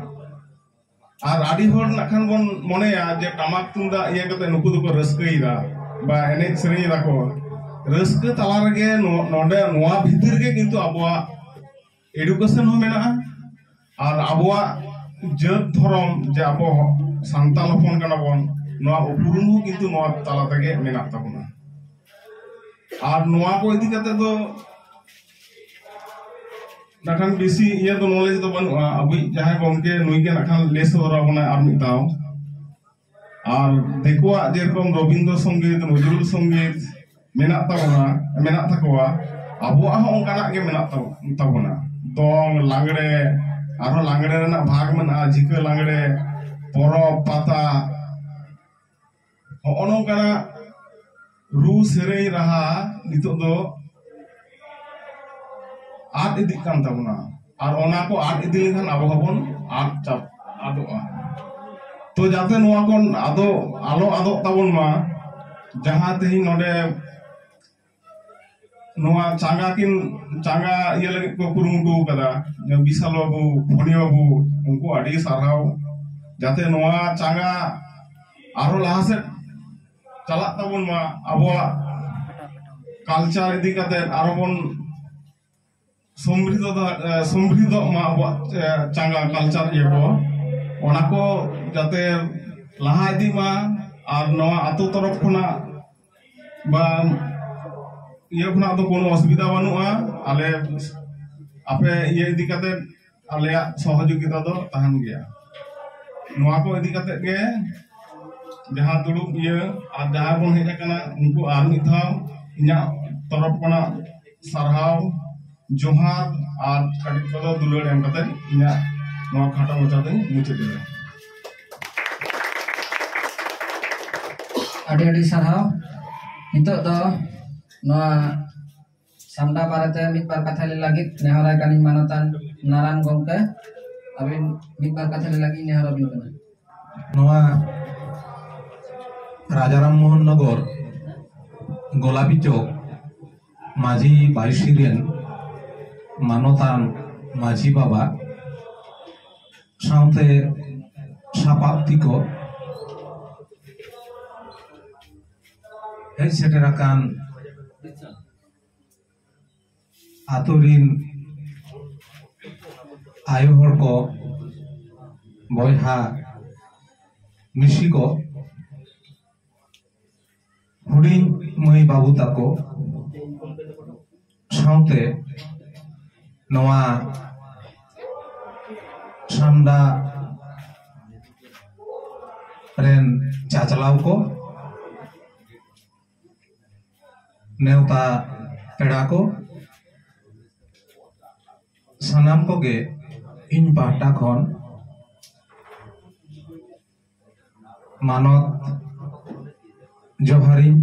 ᱟᱨ ᱟᱹᱰᱤ ᱦᱚᱲ ᱱᱟᱜ ᱠᱷᱟᱱ ᱵᱚᱱ ᱢᱚᱱᱮᱭᱟ ᱡᱮ ᱴᱟᱢᱟᱠ ᱛᱩᱢᱫᱟᱜ ᱤᱭᱟᱹ ᱠᱟᱛᱮ ᱱᱩᱠᱩ ᱫᱚᱠᱚ ᱨᱟᱹᱥᱠᱟᱹᱭᱮᱫᱟ ᱵᱟ ᱮᱱᱮᱡ ᱥᱮᱨᱮᱧ ᱮᱫᱟᱠᱚ ᱨᱟᱹᱥᱠᱟᱹ ᱛᱟᱞᱟ ᱨᱮᱜᱮ ᱱᱚᱰᱮ ᱱᱚᱣᱟ ᱵᱷᱤᱛᱤᱨ ᱜᱮ ᱠᱤᱱᱛᱩ ᱟᱵᱚᱣᱟᱜ ᱮᱰᱩᱠᱮᱥᱚᱱ ᱦᱚᱸ ᱢᱮᱱᱟᱜᱼᱟ ᱟᱨ ᱟᱵᱚᱣᱟᱜ ᱡᱟᱹᱛ ᱫᱷᱚᱨᱚᱢ ᱡᱮ ᱟᱵᱚ ᱥᱟᱱᱛᱟᱲ ᱦᱚᱯᱚᱱ ᱠᱟᱱᱟ ᱵᱚᱱ ᱱᱚᱣᱟ ᱩᱯᱨᱩᱢ ᱦᱚᱸ ᱠᱤᱱᱛᱩ ᱱᱚᱣᱟ ᱛᱟᱞᱟ ᱛᱮᱜᱮ ᱢᱮᱱᱟᱜ ᱛᱟᱵᱚᱱᱟ ᱟᱨ ᱱᱚᱣᱟ ᱠᱚ ᱤᱫᱤ ᱠᱟᱛᱮ ᱫᱚ ᱱᱟᱠᱷᱟᱱ ᱵᱮᱥᱤ ᱤᱭᱟᱹ ᱫᱚ ᱱᱚᱞᱮᱡᱽ ᱫᱚ ᱵᱟᱹᱱᱩᱜᱼᱟ ᱟᱵᱚᱭᱤᱡ ᱡᱟᱦᱟᱸᱭ ᱜᱚᱢᱠᱮ ᱱᱩᱭ ᱜᱮ ᱱᱟᱠᱷᱟᱱ ᱞᱟᱹᱭ ᱥᱚᱫᱚᱨ ᱟᱵᱚᱱᱟᱭ ᱟᱨ ᱢᱤᱫ ᱫᱷᱟᱣ ᱟᱨ ᱫᱤᱠᱩᱣᱟᱜ ᱡᱮᱨᱚᱠᱚᱢ ᱨᱚᱵᱤᱱᱫᱨᱚ ᱥᱚᱝᱜᱤᱛ ᱱᱚᱡᱨᱩᱞ ᱥᱚᱝᱜᱤᱛ ᱢᱮᱱᱟᱜ ᱛᱟᱵᱚᱱᱟ ᱢᱮᱱᱟᱜ ᱛᱟᱠᱚᱣᱟ ᱟᱵᱚᱣᱟᱜ ᱦᱚᱸ ᱚᱱᱠᱟᱱᱟᱜ ᱜᱮ ᱢᱮᱱᱟᱜ ᱛᱟᱵᱚᱱᱟ ᱫᱚᱝ ᱞᱟᱜᱽᱲᱮ ᱟᱨᱦᱚᱸ ᱞᱟᱜᱽᱲᱮ ᱨᱮᱱᱟᱜ ᱵᱷᱟᱜᱽ ᱢᱮᱱᱟᱜᱼᱟ ᱡᱷᱤᱠᱟᱹ ᱞᱟᱜᱽᱲᱮ ᱯᱚᱨᱚᱵᱽ ᱯᱟᱛᱟ ᱦᱚᱸᱜᱼᱚ ᱱᱚᱝᱠᱟᱱᱟᱜ ᱨᱩ ᱥᱮᱨᱮᱧ ᱨᱟᱦᱟ ᱱᱤᱛᱚᱜ ᱫᱚ ᱟᱫ ᱤᱫᱤᱜ ᱠᱟᱱ ᱛᱟᱵᱚᱱᱟ ᱟᱨ ᱚᱱᱟ ᱠᱚ ᱟᱫ ᱤᱫᱤ ᱞᱮᱱᱠᱷᱟᱱ ᱟᱵᱚ ᱦᱚᱸᱵᱚᱱ ᱟᱫ ᱪᱟᱵ ᱟᱫᱚᱜᱼᱟ ᱛᱚ ᱡᱟᱛᱮ ᱱᱚᱣᱟ ᱠᱚ ᱟᱫᱚ ᱟᱞᱚ ᱟᱫᱚᱜ ᱛᱟᱵᱚᱱ ᱢᱟ ᱡᱟᱦᱟᱸ ᱛᱮᱦᱮᱧ ᱱᱚᱰᱮ ᱱᱚᱣᱟ ᱪᱟᱸᱜᱟ ᱠᱤᱱ ᱪᱟᱸᱜᱟ ᱤᱭᱟᱹ ᱞᱟᱹᱜᱤᱫ ᱠᱚ ᱠᱩᱨᱩᱢᱩᱴᱩ ᱟᱠᱟᱫᱟ ᱵᱤᱥᱟᱞ ᱵᱟᱹᱵᱩ ᱯᱷᱚᱱᱤ ᱵᱟᱹᱵᱩ ᱩᱱᱠᱩ ᱟᱹᱰᱤ ᱥᱟᱨᱦᱟᱣ ᱡᱟᱛᱮ ᱱᱚᱣᱟ ᱪᱟᱸᱜᱟ ᱟᱨᱦᱚᱸ ᱞᱟᱦᱟ ᱥᱮᱫ ᱪᱟᱞᱟᱜ ᱛᱟᱵᱚᱱ ᱢᱟ ᱟᱵᱚᱣᱟᱜ ᱠᱟᱞᱪᱟᱨ ᱤᱫᱤ ᱠᱟᱛᱮ ᱟᱨᱦᱚᱸ ᱵᱚᱱ ᱥᱚᱢᱨᱤᱫᱷᱚᱜ ᱢᱟ ᱟᱵᱚᱣᱟᱜ ᱪᱟᱸᱜᱟ ᱠᱟᱞᱪᱟᱨ ᱤᱭᱟᱹ ᱠᱚ ᱚᱱᱟ ᱠᱚ ᱡᱟᱛᱮ ᱞᱟᱦᱟ ᱤᱫᱤᱜ ᱢᱟ ᱟᱨ ᱱᱚᱣᱟ ᱟᱛᱳ ᱛᱚᱨᱚᱯ ᱠᱷᱚᱱᱟᱜ ᱵᱟ ᱤᱭᱟᱹ ᱠᱷᱚᱱᱟᱜ ᱫᱚ ᱠᱳᱱᱳ ᱚᱥᱩᱵᱤᱫᱷᱟ ᱵᱟᱹᱱᱩᱜᱼᱟ ᱟᱞᱮ ᱟᱯᱮ ᱤᱭᱟᱹ ᱤᱫᱤ ᱠᱟᱛᱮ ᱟᱞᱮᱭᱟᱜ ᱥᱚᱦᱚᱡᱳᱜᱤᱛᱟ ᱫᱚ ᱛᱟᱦᱮᱱ ᱜᱮᱭᱟ ᱱᱚᱣᱟ ᱠᱚ ᱤᱫᱤ ᱠᱟᱛᱮ ᱜᱮ ᱡᱟᱦᱟᱸ ᱫᱩᱲᱩᱵ ᱤᱭᱟᱹ ᱟᱨ ᱡᱟᱦᱟᱸ ᱵᱚᱱ ᱦᱮᱡ ᱟᱠᱟᱱᱟ ᱩᱱᱠᱩ ᱟᱨ ᱢᱤᱫ ᱫᱷᱟᱣ ᱤᱧᱟᱹᱜ ᱛᱚᱨᱚᱯ ᱠᱷᱚᱱᱟᱜ ᱥᱟᱨᱦᱟᱣ ᱡᱚᱦᱟᱨ ᱟᱨ ᱠᱟᱹᱴᱤᱡ ᱠᱚᱫᱚ ᱫᱩᱞᱟᱹᱲ ᱮᱢ ᱠᱟᱛᱮ ᱤᱧᱟᱹᱜ ᱱᱚᱣᱟ ᱠᱷᱟᱴᱚ ᱢᱚᱪᱟ ᱫᱚᱧ ᱢᱩᱪᱟᱹᱫ ᱮᱫᱟ ᱟᱹᱰᱤ ᱟᱹᱰᱤ ᱥᱟᱨᱦᱟᱣ ᱱᱤᱛᱚᱜ ᱫᱚ ᱱᱚᱣᱟ ᱥᱟᱢᱰᱟ ᱵᱟᱨᱮᱛᱮ ᱢᱤᱫ ᱵᱟᱨ ᱠᱟᱛᱷᱟ ᱞᱟᱹᱭ ᱞᱟᱹᱜᱤᱫ ᱱᱮᱦᱚᱨᱟᱭ ᱠᱟᱹᱱᱟᱹᱧ ᱢᱟᱱᱚᱛᱟᱱ ᱱᱟᱨᱟᱭᱚᱱ ᱜᱚᱢᱠᱮ ᱟᱹᱵᱤᱱ ᱢᱤᱫ ᱵᱟᱨ ᱠᱟᱛᱷᱟ ᱞᱟᱹᱭ ᱞᱟᱹᱜᱤᱫ ᱱᱮᱦᱚᱨ ᱟᱹᱵᱤᱱ ᱠᱟᱱᱟ ᱱᱚᱣᱟ ᱨᱟᱡᱟᱨᱟᱢ ᱢᱳᱦᱚᱱ ᱱᱚᱜᱚᱨ ᱜᱳᱞᱟᱯᱤ ᱪᱚᱠ ᱢᱟᱹᱡᱷᱤ ᱵᱟᱭᱩᱥᱤ ᱨᱮᱱ ᱢᱟᱱᱚᱛᱟᱱ ᱢᱟᱹᱡᱷᱤ ᱵᱟᱵᱟ ᱥᱟᱶᱛᱮ ᱥᱟᱯᱟᱵ ᱛᱤᱠᱚ ᱦᱮᱡ ᱥᱮᱴᱮᱨ ᱟᱠᱟᱱ ᱟᱛᱳ ᱨᱤᱱ ᱟᱭᱳ ᱦᱚᱲ ᱠᱚ ᱵᱚᱭᱦᱟ ᱢᱤᱥᱤ ᱠᱚ ᱦᱩᱰᱤᱧ ᱢᱟᱹᱭ ᱵᱟᱹᱵᱩ ᱛᱟᱠᱚ ᱥᱟᱶᱛᱮ ᱱᱚᱣᱟ ᱥᱟᱢᱰᱟ ᱨᱮᱱ ᱪᱟᱪᱞᱟᱣ ᱠᱚ ᱱᱮᱣᱛᱟ ᱯᱮᱲᱟ ᱠᱚ ᱥᱟᱱᱟᱢ ᱠᱚᱜᱮ ᱤᱧ ᱯᱟᱦᱴᱟ ᱠᱷᱚᱱ ᱢᱟᱱᱚᱛ ᱡᱚᱦᱟᱨᱤᱧ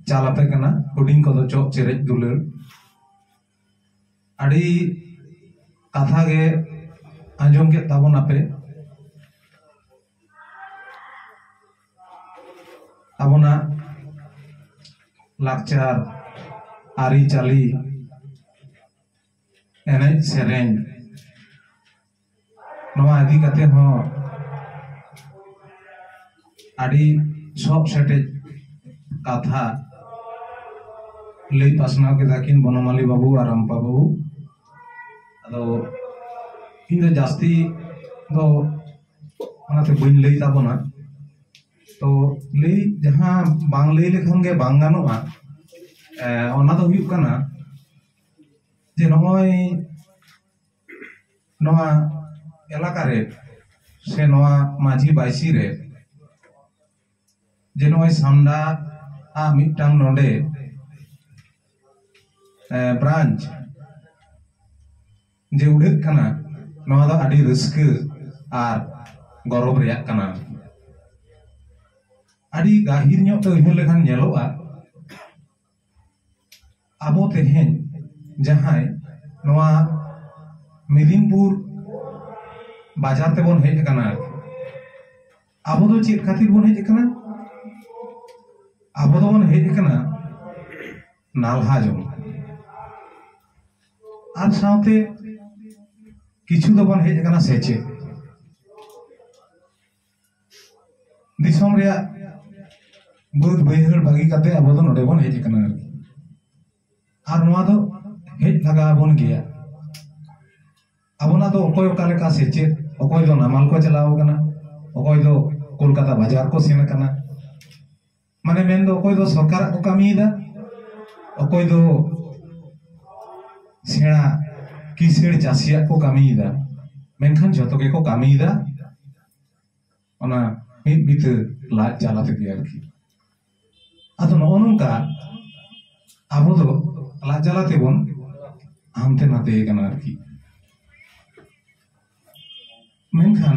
ᱪᱟᱞ ᱟᱯᱮ ᱠᱟᱱᱟ ᱦᱩᱰᱤᱧ ᱠᱚᱫᱚ ᱪᱚᱜ ᱪᱮᱨᱮᱡ ᱫᱩᱞᱟᱹᱲ ᱟᱹᱰᱤ ᱠᱟᱛᱷᱟ ᱜᱮ ᱟᱸᱡᱚᱢ ᱠᱮᱫ ᱛᱟᱵᱚᱱᱟᱯᱮ ᱟᱵᱚᱱᱟᱜ ᱞᱟᱠᱪᱟᱨ ᱟᱹᱨᱤᱪᱟᱹᱞᱤ ᱮᱱᱮᱡ ᱥᱮᱨᱮᱧ ᱱᱚᱣᱟ ᱤᱫᱤ ᱠᱟᱛᱮ ᱦᱚᱸ ᱟᱹᱰᱤ ᱥᱚᱵ ᱥᱮᱴᱮᱡ ᱠᱟᱛᱷᱟ ᱞᱟᱹᱭ ᱯᱟᱥᱱᱟᱣ ᱠᱮᱫᱟ ᱠᱤᱱ ᱵᱚᱱᱚᱢᱟᱞᱤ ᱵᱟᱹᱵᱩ ᱟᱨ ᱨᱟᱢᱯᱟ ᱵᱟᱹᱵᱩ ᱟᱫᱚ ᱤᱧ ᱫᱚ ᱡᱟᱹᱥᱛᱤ ᱫᱚ ᱚᱱᱟᱛᱮ ᱵᱟᱹᱧ ᱞᱟᱹᱭ ᱛᱟᱵᱚᱱᱟ ᱛᱚ ᱞᱟᱹᱭ ᱡᱟᱦᱟᱸ ᱵᱟᱝ ᱞᱟᱹᱭ ᱞᱮᱠᱷᱟᱱ ᱜᱮ ᱵᱟᱝ ᱜᱟᱱᱚᱜᱼᱟ ᱚᱱᱟ ᱫᱚ ᱦᱩᱭᱩᱜ ᱠᱟᱱᱟ ᱡᱮ ᱱᱚᱜᱼᱚᱭ ᱱᱚᱣᱟ ᱮᱞᱟᱠᱟ ᱨᱮ ᱥᱮ ᱱᱚᱣᱟ ᱢᱟᱹᱡᱷᱤ ᱵᱟᱭᱥᱤ ᱨᱮ ᱡᱮ ᱱᱚᱜᱼᱚᱭ ᱥᱟᱢᱰᱟ ᱟᱜ ᱢᱤᱫᱴᱟᱝ ᱱᱚᱰᱮ ᱵᱨᱟᱱᱪ ᱡᱮ ᱩᱰᱷᱟᱹᱜ ᱠᱟᱱᱟ ᱱᱚᱣᱟ ᱫᱚ ᱟᱹᱰᱤ ᱨᱟᱹᱥᱠᱟᱹ ᱟᱨ ᱜᱚᱨᱚᱵ ᱨᱮᱭᱟᱜ ᱠᱟᱱᱟ ᱟᱹᱰᱤ ᱜᱟᱹᱦᱤᱨ ᱧᱚᱜ ᱛᱮ ᱩᱭᱦᱟᱹᱨ ᱞᱮᱠᱷᱟᱱ ᱧᱮᱞᱚᱜᱼᱟ ᱟᱵᱚ ᱛᱮᱦᱮᱧ ᱡᱟᱦᱟᱸᱭ ᱱᱚᱣᱟ ᱢᱮᱫᱤᱱᱤᱯᱩᱨ ᱵᱟᱡᱟᱨ ᱛᱮᱵᱚᱱ ᱦᱮᱡ ᱟᱠᱟᱱᱟ ᱟᱨᱠᱤ ᱟᱵᱚ ᱫᱚ ᱪᱮᱫ ᱠᱷᱟᱹᱛᱤᱨ ᱵᱚᱱ ᱦᱮᱡ ᱟᱠᱟᱱᱟ ᱟᱵᱚ ᱫᱚᱵᱚᱱ ᱦᱮᱡ ᱟᱠᱟᱱᱟ ᱱᱟᱞᱦᱟ ᱡᱚᱝ ᱟᱨ ᱥᱟᱶᱛᱮ ᱠᱤᱪᱷᱩ ᱫᱚᱵᱚᱱ ᱦᱮᱡ ᱟᱠᱟᱱᱟ ᱥᱮᱪᱮᱫ ᱫᱤᱥᱚᱢ ᱨᱮᱭᱟᱜ ᱵᱟᱹᱫ ᱵᱟᱹᱭᱦᱟᱹᱲ ᱵᱟᱹᱜᱤ ᱠᱟᱛᱮ ᱟᱵᱚ ᱫᱚ ᱱᱚᱰᱮ ᱵᱚᱱ ᱦᱮᱡ ᱟᱠᱟᱱᱟ ᱟᱨᱠᱤ ᱟᱨ ᱱᱚᱣᱟ ᱫᱚ ᱦᱮᱡ ᱞᱟᱜᱟᱣ ᱟᱵᱚᱱ ᱜᱮᱭᱟ ᱟᱵᱚᱱᱟᱜ ᱫᱚ ᱚᱠᱚᱭ ᱚᱠᱟ ᱞᱮᱠᱟ ᱥᱮᱪᱮᱫ ᱚᱠᱚᱭ ᱫᱚ ᱱᱟᱢᱟᱞ ᱠᱚ ᱪᱟᱞᱟᱣ ᱟᱠᱟᱱᱟ ᱚᱠᱚᱭ ᱫᱚ ᱠᱳᱞᱠᱟᱛᱟ ᱵᱟᱡᱟᱨ ᱠᱚ ᱥᱮᱱ ᱟᱠᱟᱱᱟ ᱢᱟᱱᱮ ᱢᱮᱱᱫᱚ ᱚᱠᱚᱭ ᱫᱚ ᱥᱚᱨᱠᱟᱨᱟᱜ ᱠᱚ ᱠᱟᱹᱢᱤᱭᱮᱫᱟ ᱚᱠᱚᱭ ᱫᱚ ᱥᱮᱬᱟ ᱠᱤᱥᱟᱹᱬ ᱪᱟᱹᱥᱤᱭᱟᱜ ᱠᱚ ᱠᱟᱹᱢᱤᱭᱮᱫᱟ ᱢᱮᱱᱠᱷᱟᱱ ᱡᱚᱛᱚ ᱜᱮᱠᱚ ᱠᱟᱹᱢᱤᱭᱮᱫᱟ ᱚᱱᱟ ᱢᱤᱫ ᱵᱤᱛᱟᱹ ᱞᱟᱡ ᱡᱟᱞᱟ ᱛᱮᱜᱮ ᱟᱨᱠᱤ ᱟᱫᱚ ᱱᱚᱜᱼᱚ ᱱᱚᱝᱠᱟ ᱟᱵᱚ ᱫᱚ ᱞᱟᱡ ᱡᱟᱞᱟ ᱛᱮᱵᱚᱱ ᱦᱟᱱᱛᱮ ᱱᱟᱛᱮ ᱠᱟᱱᱟ ᱟᱨᱠᱤ ᱢᱮᱱᱠᱷᱟᱱ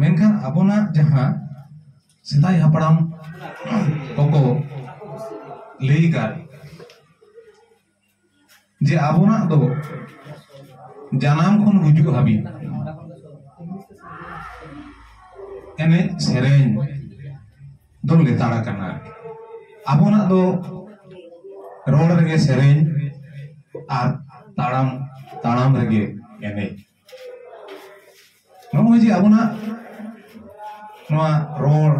ᱢᱮᱱᱠᱷᱟᱱ ᱟᱵᱚᱱᱟᱜ ᱡᱟᱦᱟᱸ ᱥᱮᱫᱟᱭ ᱦᱟᱯᱲᱟᱢ ᱠᱚᱠᱚ ᱞᱟᱹᱭ ᱟᱠᱟᱫ ᱡᱮ ᱟᱵᱚᱱᱟᱜ ᱫᱚ ᱡᱟᱱᱟᱢ ᱠᱷᱚᱱ ᱜᱩᱡᱩᱜ ᱦᱟᱹᱵᱤᱡ ᱮᱱᱮᱡ ᱥᱮᱨᱮᱧ ᱫᱚ ᱞᱮᱛᱟᱲ ᱟᱠᱟᱱᱟ ᱟᱵᱚᱱᱟᱜ ᱫᱚ ᱨᱚᱲ ᱨᱮᱜᱮ ᱥᱮᱨᱮᱧ ᱟᱨ ᱛᱟᱲᱟᱢ ᱛᱟᱲᱟᱢ ᱨᱮᱜᱮ ᱮᱱᱮᱡ ᱱᱚᱜᱼᱚᱭ ᱡᱮ ᱟᱵᱚᱱᱟᱜ ᱱᱚᱣᱟ ᱨᱚᱲ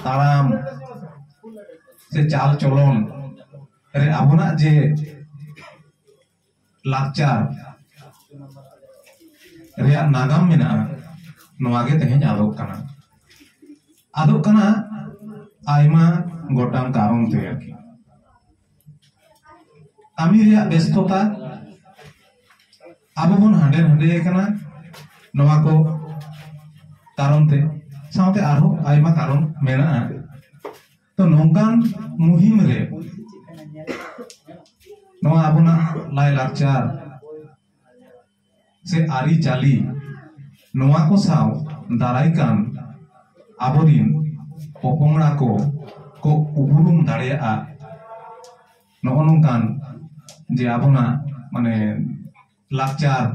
ᱛᱟᱲᱟᱢ ᱥᱮ ᱪᱟᱞ ᱪᱚᱞᱚᱱ ᱨᱮ ᱟᱵᱚᱱᱟᱜ ᱡᱮ ᱞᱟᱠᱪᱟᱨ ᱨᱮᱭᱟᱜ ᱱᱟᱜᱟᱢ ᱢᱮᱱᱟᱜᱼᱟ ᱱᱚᱣᱟ ᱜᱮ ᱛᱮᱦᱮᱧ ᱟᱫᱚᱜ ᱠᱟᱱᱟ ᱟᱫᱚᱜ ᱠᱟᱱᱟ ᱟᱭᱢᱟ ᱜᱚᱴᱟᱝ ᱠᱟᱨᱚᱱ ᱛᱮ ᱟᱨᱠᱤ ᱠᱟᱹᱢᱤ ᱨᱮᱭᱟᱜ ᱵᱮᱥᱛᱚᱛᱟ ᱟᱵᱚ ᱵᱚᱱ ᱦᱟᱸᱰᱮ ᱱᱟᱸᱰᱮ ᱟᱠᱟᱱᱟ ᱱᱚᱣᱟ ᱠᱚ ᱠᱟᱨᱚᱱ ᱛᱮ ᱥᱟᱶᱛᱮ ᱟᱨᱦᱚᱸ ᱟᱭᱢᱟ ᱠᱟᱨᱚᱱ ᱢᱮᱱᱟᱜᱼᱟ ᱛᱚ ᱱᱚᱝᱠᱟᱱ ᱢᱩᱦᱤᱢ ᱨᱮ ᱱᱚᱣᱟ ᱟᱵᱚᱱᱟᱜ ᱞᱟᱭ ᱞᱟᱠᱪᱟᱨ ᱥᱮ ᱟᱹᱨᱤ ᱪᱟᱹᱞᱤ ᱱᱚᱣᱟ ᱠᱚ ᱥᱟᱶ ᱫᱟᱨᱟᱭ ᱠᱟᱱ ᱟᱵᱚᱨᱤᱱ ᱯᱚᱯᱚᱝᱲᱟ ᱠᱚ ᱠᱚ ᱩᱯᱨᱩᱢ ᱫᱟᱲᱮᱭᱟᱜᱼᱟ ᱱᱚᱜᱼᱚ ᱱᱚᱝᱠᱟᱱ ᱡᱮ ᱟᱵᱚᱱᱟᱜ ᱢᱟᱱᱮ ᱞᱟᱠᱪᱟᱨ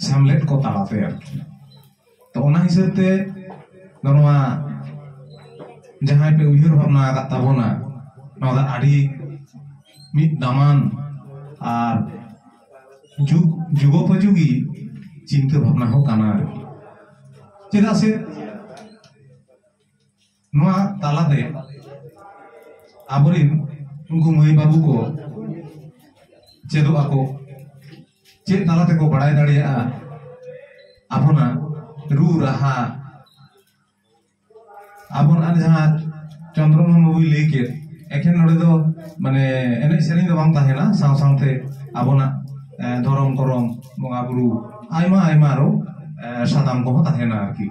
ᱥᱮᱢᱞᱮᱫ ᱠᱚ ᱛᱟᱞᱟᱛᱮ ᱟᱨᱠᱤ ᱛᱚ ᱚᱱᱟ ᱦᱤᱥᱟᱹᱵ ᱛᱮ ᱱᱚᱣᱟ ᱡᱟᱦᱟᱸᱭ ᱯᱮ ᱩᱭᱦᱟᱹᱨ ᱵᱷᱟᱵᱽᱱᱟ ᱟᱠᱟᱫ ᱛᱟᱵᱚᱱᱟ ᱱᱚᱣᱟ ᱫᱚ ᱟᱹᱰᱤ ᱢᱤᱫ ᱫᱟᱢᱟᱱ ᱟᱨ ᱡᱩᱜᱽ ᱡᱩᱜᱳᱯᱚᱡᱳᱜᱤ ᱪᱤᱱᱛᱟᱹ ᱵᱷᱟᱵᱽᱱᱟ ᱦᱚᱸ ᱠᱟᱱᱟ ᱟᱨᱠᱤ ᱪᱮᱫᱟᱜ ᱥᱮ ᱱᱚᱣᱟ ᱛᱟᱞᱟᱛᱮ ᱟᱵᱚᱨᱮᱱ ᱩᱱᱠᱩ ᱢᱟᱹᱭ ᱵᱟᱹᱵᱩ ᱠᱚ ᱪᱮᱫᱚᱜ ᱟᱠᱚ ᱪᱮᱫ ᱛᱟᱞᱟ ᱛᱮᱠᱚ ᱵᱟᱲᱟᱭ ᱫᱟᱲᱮᱭᱟᱜᱼᱟ ᱟᱵᱚᱱᱟᱜ ᱨᱩ ᱨᱟᱦᱟ ᱟᱵᱚᱱᱟᱜ ᱡᱟᱦᱟᱸ ᱪᱚᱱᱫᱨᱚᱢᱳᱦᱚᱱ ᱵᱟᱵᱩᱭ ᱞᱟᱹᱭ ᱠᱮᱫ ᱮᱠᱷᱮᱱ ᱱᱚᱰᱮ ᱫᱚ ᱢᱟᱱᱮ ᱮᱱᱮᱡ ᱥᱮᱨᱮᱧ ᱫᱚ ᱵᱟᱝ ᱛᱟᱦᱮᱱᱟ ᱥᱟᱶ ᱥᱟᱶᱛᱮ ᱟᱵᱚᱱᱟᱜ ᱮᱸ, ᱫᱷᱚᱨᱚᱢ ᱠᱚᱨᱚᱢ ᱵᱚᱸᱜᱟ ᱵᱩᱨᱩ ᱟᱭᱢᱟ ᱟᱭᱢᱟ ᱟᱨᱚ ᱮᱸ, ᱥᱟᱛᱟᱢ ᱠᱚᱦᱚᱸ ᱛᱟᱦᱮᱱᱟ ᱟᱨᱠᱤ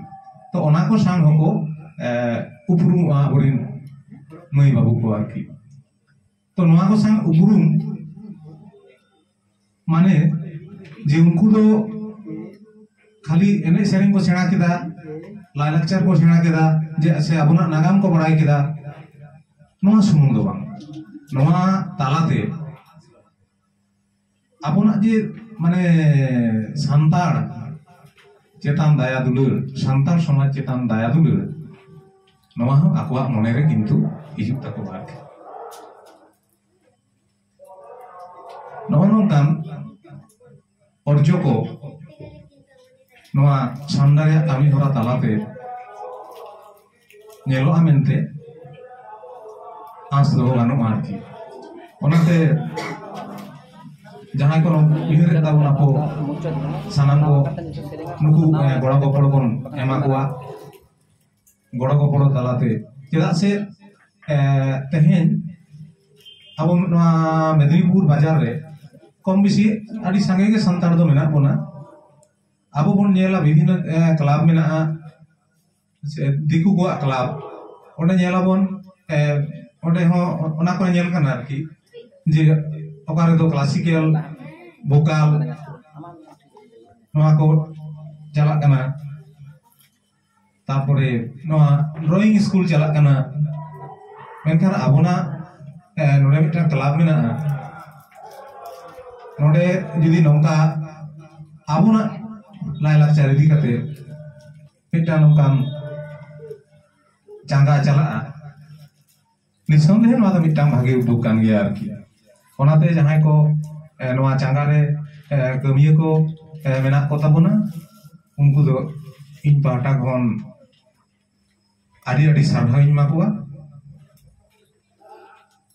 ᱛᱚ ᱚᱱᱟ ᱠᱚ ᱥᱟᱶ ᱦᱚᱸᱠᱚ ᱩᱯᱨᱩᱢᱚᱜᱼᱟ ᱟᱵᱚᱨᱮᱱ ᱢᱟᱹᱭ ᱵᱟᱹᱵᱩ ᱠᱚ ᱟᱨᱠᱤ ᱛᱚ ᱱᱚᱣᱟ ᱠᱚ ᱥᱟᱶ ᱩᱯᱨᱩᱢ ᱢᱟᱱᱮ ᱡᱮ ᱩᱱᱠᱩ ᱫᱚ ᱠᱷᱟᱹᱞᱤ ᱮᱱᱮᱡ ᱥᱮᱨᱮᱧ ᱠᱚ ᱥᱮᱬᱟ ᱠᱮᱫᱟ ᱞᱟᱭᱞᱟᱠᱪᱟᱨ ᱠᱚ ᱥᱮᱬᱟ ᱠᱮᱫᱟ ᱡᱮ ᱥᱮ ᱟᱵᱚᱱᱟᱜ ᱱᱟᱜᱟᱢ ᱠᱚ ᱵᱟᱲᱟᱭ ᱠᱮᱫᱟ ᱱᱚᱣᱟ ᱥᱩᱢᱩᱝ ᱫᱚ ᱵᱟᱝ ᱱᱚᱣᱟ ᱛᱟᱞᱟᱛᱮ ᱟᱵᱚᱱᱟᱜ ᱡᱮ ᱢᱟᱱᱮ ᱥᱟᱱᱛᱟᱲ ᱪᱮᱛᱟᱱ ᱫᱟᱭᱟ ᱫᱩᱞᱟᱹᱲ ᱥᱟᱱᱛᱟᱲ ᱥᱚᱢᱟᱡᱽ ᱪᱮᱛᱟᱱ ᱫᱟᱭᱟ ᱫᱩᱞᱟᱹᱲ ᱱᱚᱣᱟ ᱦᱚᱸ ᱟᱠᱚᱣᱟᱜ ᱢᱚᱱᱮᱨᱮ ᱠᱤᱱᱛᱩ ᱦᱤᱡᱩᱜ ᱛᱟᱠᱚᱣᱟ ᱟᱨᱠᱤ ᱱᱚᱜᱼᱚ ᱱᱚᱝᱠᱟᱱ ᱚᱨᱡᱚ ᱠᱚ ᱱᱚᱣᱟ ᱥᱟᱢᱰᱟ ᱨᱮᱭᱟᱜ ᱠᱟᱹᱢᱤ ᱦᱚᱨᱟ ᱛᱟᱞᱟᱛᱮ ᱧᱮᱞᱚᱜᱼᱟ ᱢᱮᱱᱛᱮ ᱟᱸᱥ ᱫᱚᱦᱚ ᱜᱟᱱᱚᱜᱼᱟ ᱟᱨᱠᱤ ᱚᱱᱟᱛᱮ ᱡᱟᱦᱟᱸᱭ ᱠᱚ ᱩᱭᱦᱟᱹᱨ ᱠᱟᱫᱟ ᱵᱚᱱ ᱟᱠᱚ ᱥᱟᱱᱟᱢ ᱠᱚ ᱱᱩᱠᱩ ᱜᱚᱲᱚ ᱜᱚᱯᱚᱲ ᱵᱚᱱ ᱮᱢᱟ ᱠᱚᱣᱟ ᱜᱚᱲᱚ ᱜᱚᱯᱚᱲ ᱛᱟᱞᱟᱛᱮ ᱪᱮᱫᱟᱜ ᱥᱮ ᱛᱮᱦᱮᱧ ᱟᱵᱚ ᱱᱚᱣᱟ ᱢᱮᱫᱽᱱᱤᱯᱩᱨ ᱵᱟᱡᱟᱨ ᱨᱮ ᱠᱚᱢ ᱵᱮᱥᱤ ᱟᱹᱰᱤ ᱥᱟᱸᱜᱮ ᱜᱮ ᱥᱟᱱᱛᱟᱲ ᱫᱚ ᱢᱮᱱᱟᱜ ᱵᱚᱱᱟ ᱟᱵᱚ ᱵᱚᱱ ᱧᱮᱞᱟ ᱵᱤᱵᱷᱤᱱᱱᱚ ᱠᱞᱟᱵᱽ ᱢᱮᱱᱟᱜᱼᱟ ᱥᱮ ᱫᱤᱠᱩ ᱠᱚᱣᱟᱜ ᱠᱞᱟᱵᱽ ᱚᱸᱰᱮ ᱧᱮᱞ ᱟᱵᱚᱱ ᱚᱸᱰᱮ ᱦᱚᱸ ᱚᱱᱟ ᱠᱚᱨᱮ ᱧᱮᱞ ᱠᱟᱱᱟ ᱟᱨᱠᱤ ᱡᱮ ᱚᱠᱟ ᱨᱮᱫᱚ ᱠᱞᱟᱥᱤᱠᱮᱞ ᱵᱷᱳᱠᱟᱞ ᱱᱚᱣᱟ ᱠᱚ ᱪᱟᱞᱟᱜ ᱠᱟᱱᱟ ᱛᱟᱨᱯᱚᱨᱮ ᱱᱚᱣᱟ ᱰᱨᱚᱭᱤᱝ ᱥᱠᱩᱞ ᱪᱟᱞᱟᱜ ᱠᱟᱱᱟ ᱢᱮᱱᱠᱷᱟᱱ ᱟᱵᱚᱱᱟᱜ ᱱᱚᱰᱮ ᱢᱤᱫᱴᱟᱝ ᱠᱞᱟᱵᱽ ᱢᱮᱱᱟᱜᱼᱟ ᱱᱚᱰᱮ ᱡᱩᱫᱤ ᱱᱚᱝᱠᱟ ᱟᱵᱚᱱᱟᱜ ᱞᱟᱭᱞᱟᱠᱪᱟᱨ ᱤᱫᱤ ᱠᱟᱛᱮ ᱢᱤᱫᱴᱟᱝ ᱱᱚᱝᱠᱟᱱ ᱪᱟᱸᱜᱟ ᱪᱟᱞᱟᱜᱼᱟ ᱱᱤᱥᱚᱱᱫᱮᱦᱮ ᱱᱚᱣᱟ ᱫᱚ ᱢᱤᱫᱴᱟᱝ ᱵᱷᱟᱜᱮ ᱩᱫᱽᱫᱳᱜᱽ ᱠᱟᱱ ᱜᱮᱭᱟ ᱟᱨᱠᱤ ᱚᱱᱟᱛᱮ ᱡᱟᱦᱟᱸᱭ ᱠᱚ ᱱᱚᱣᱟ ᱪᱟᱸᱜᱟ ᱨᱮ ᱠᱟᱹᱢᱤᱭᱟᱹ ᱠᱚ ᱢᱮᱱᱟᱜ ᱠᱚ ᱛᱟᱵᱚᱱᱟ ᱩᱱᱠᱩ ᱫᱚ ᱤᱧ ᱯᱟᱦᱴᱟ ᱠᱷᱚᱱ ᱟᱹᱰᱤ ᱟᱹᱰᱤ ᱥᱟᱨᱦᱟᱣᱤᱧ ᱮᱢᱟ ᱠᱚᱣᱟ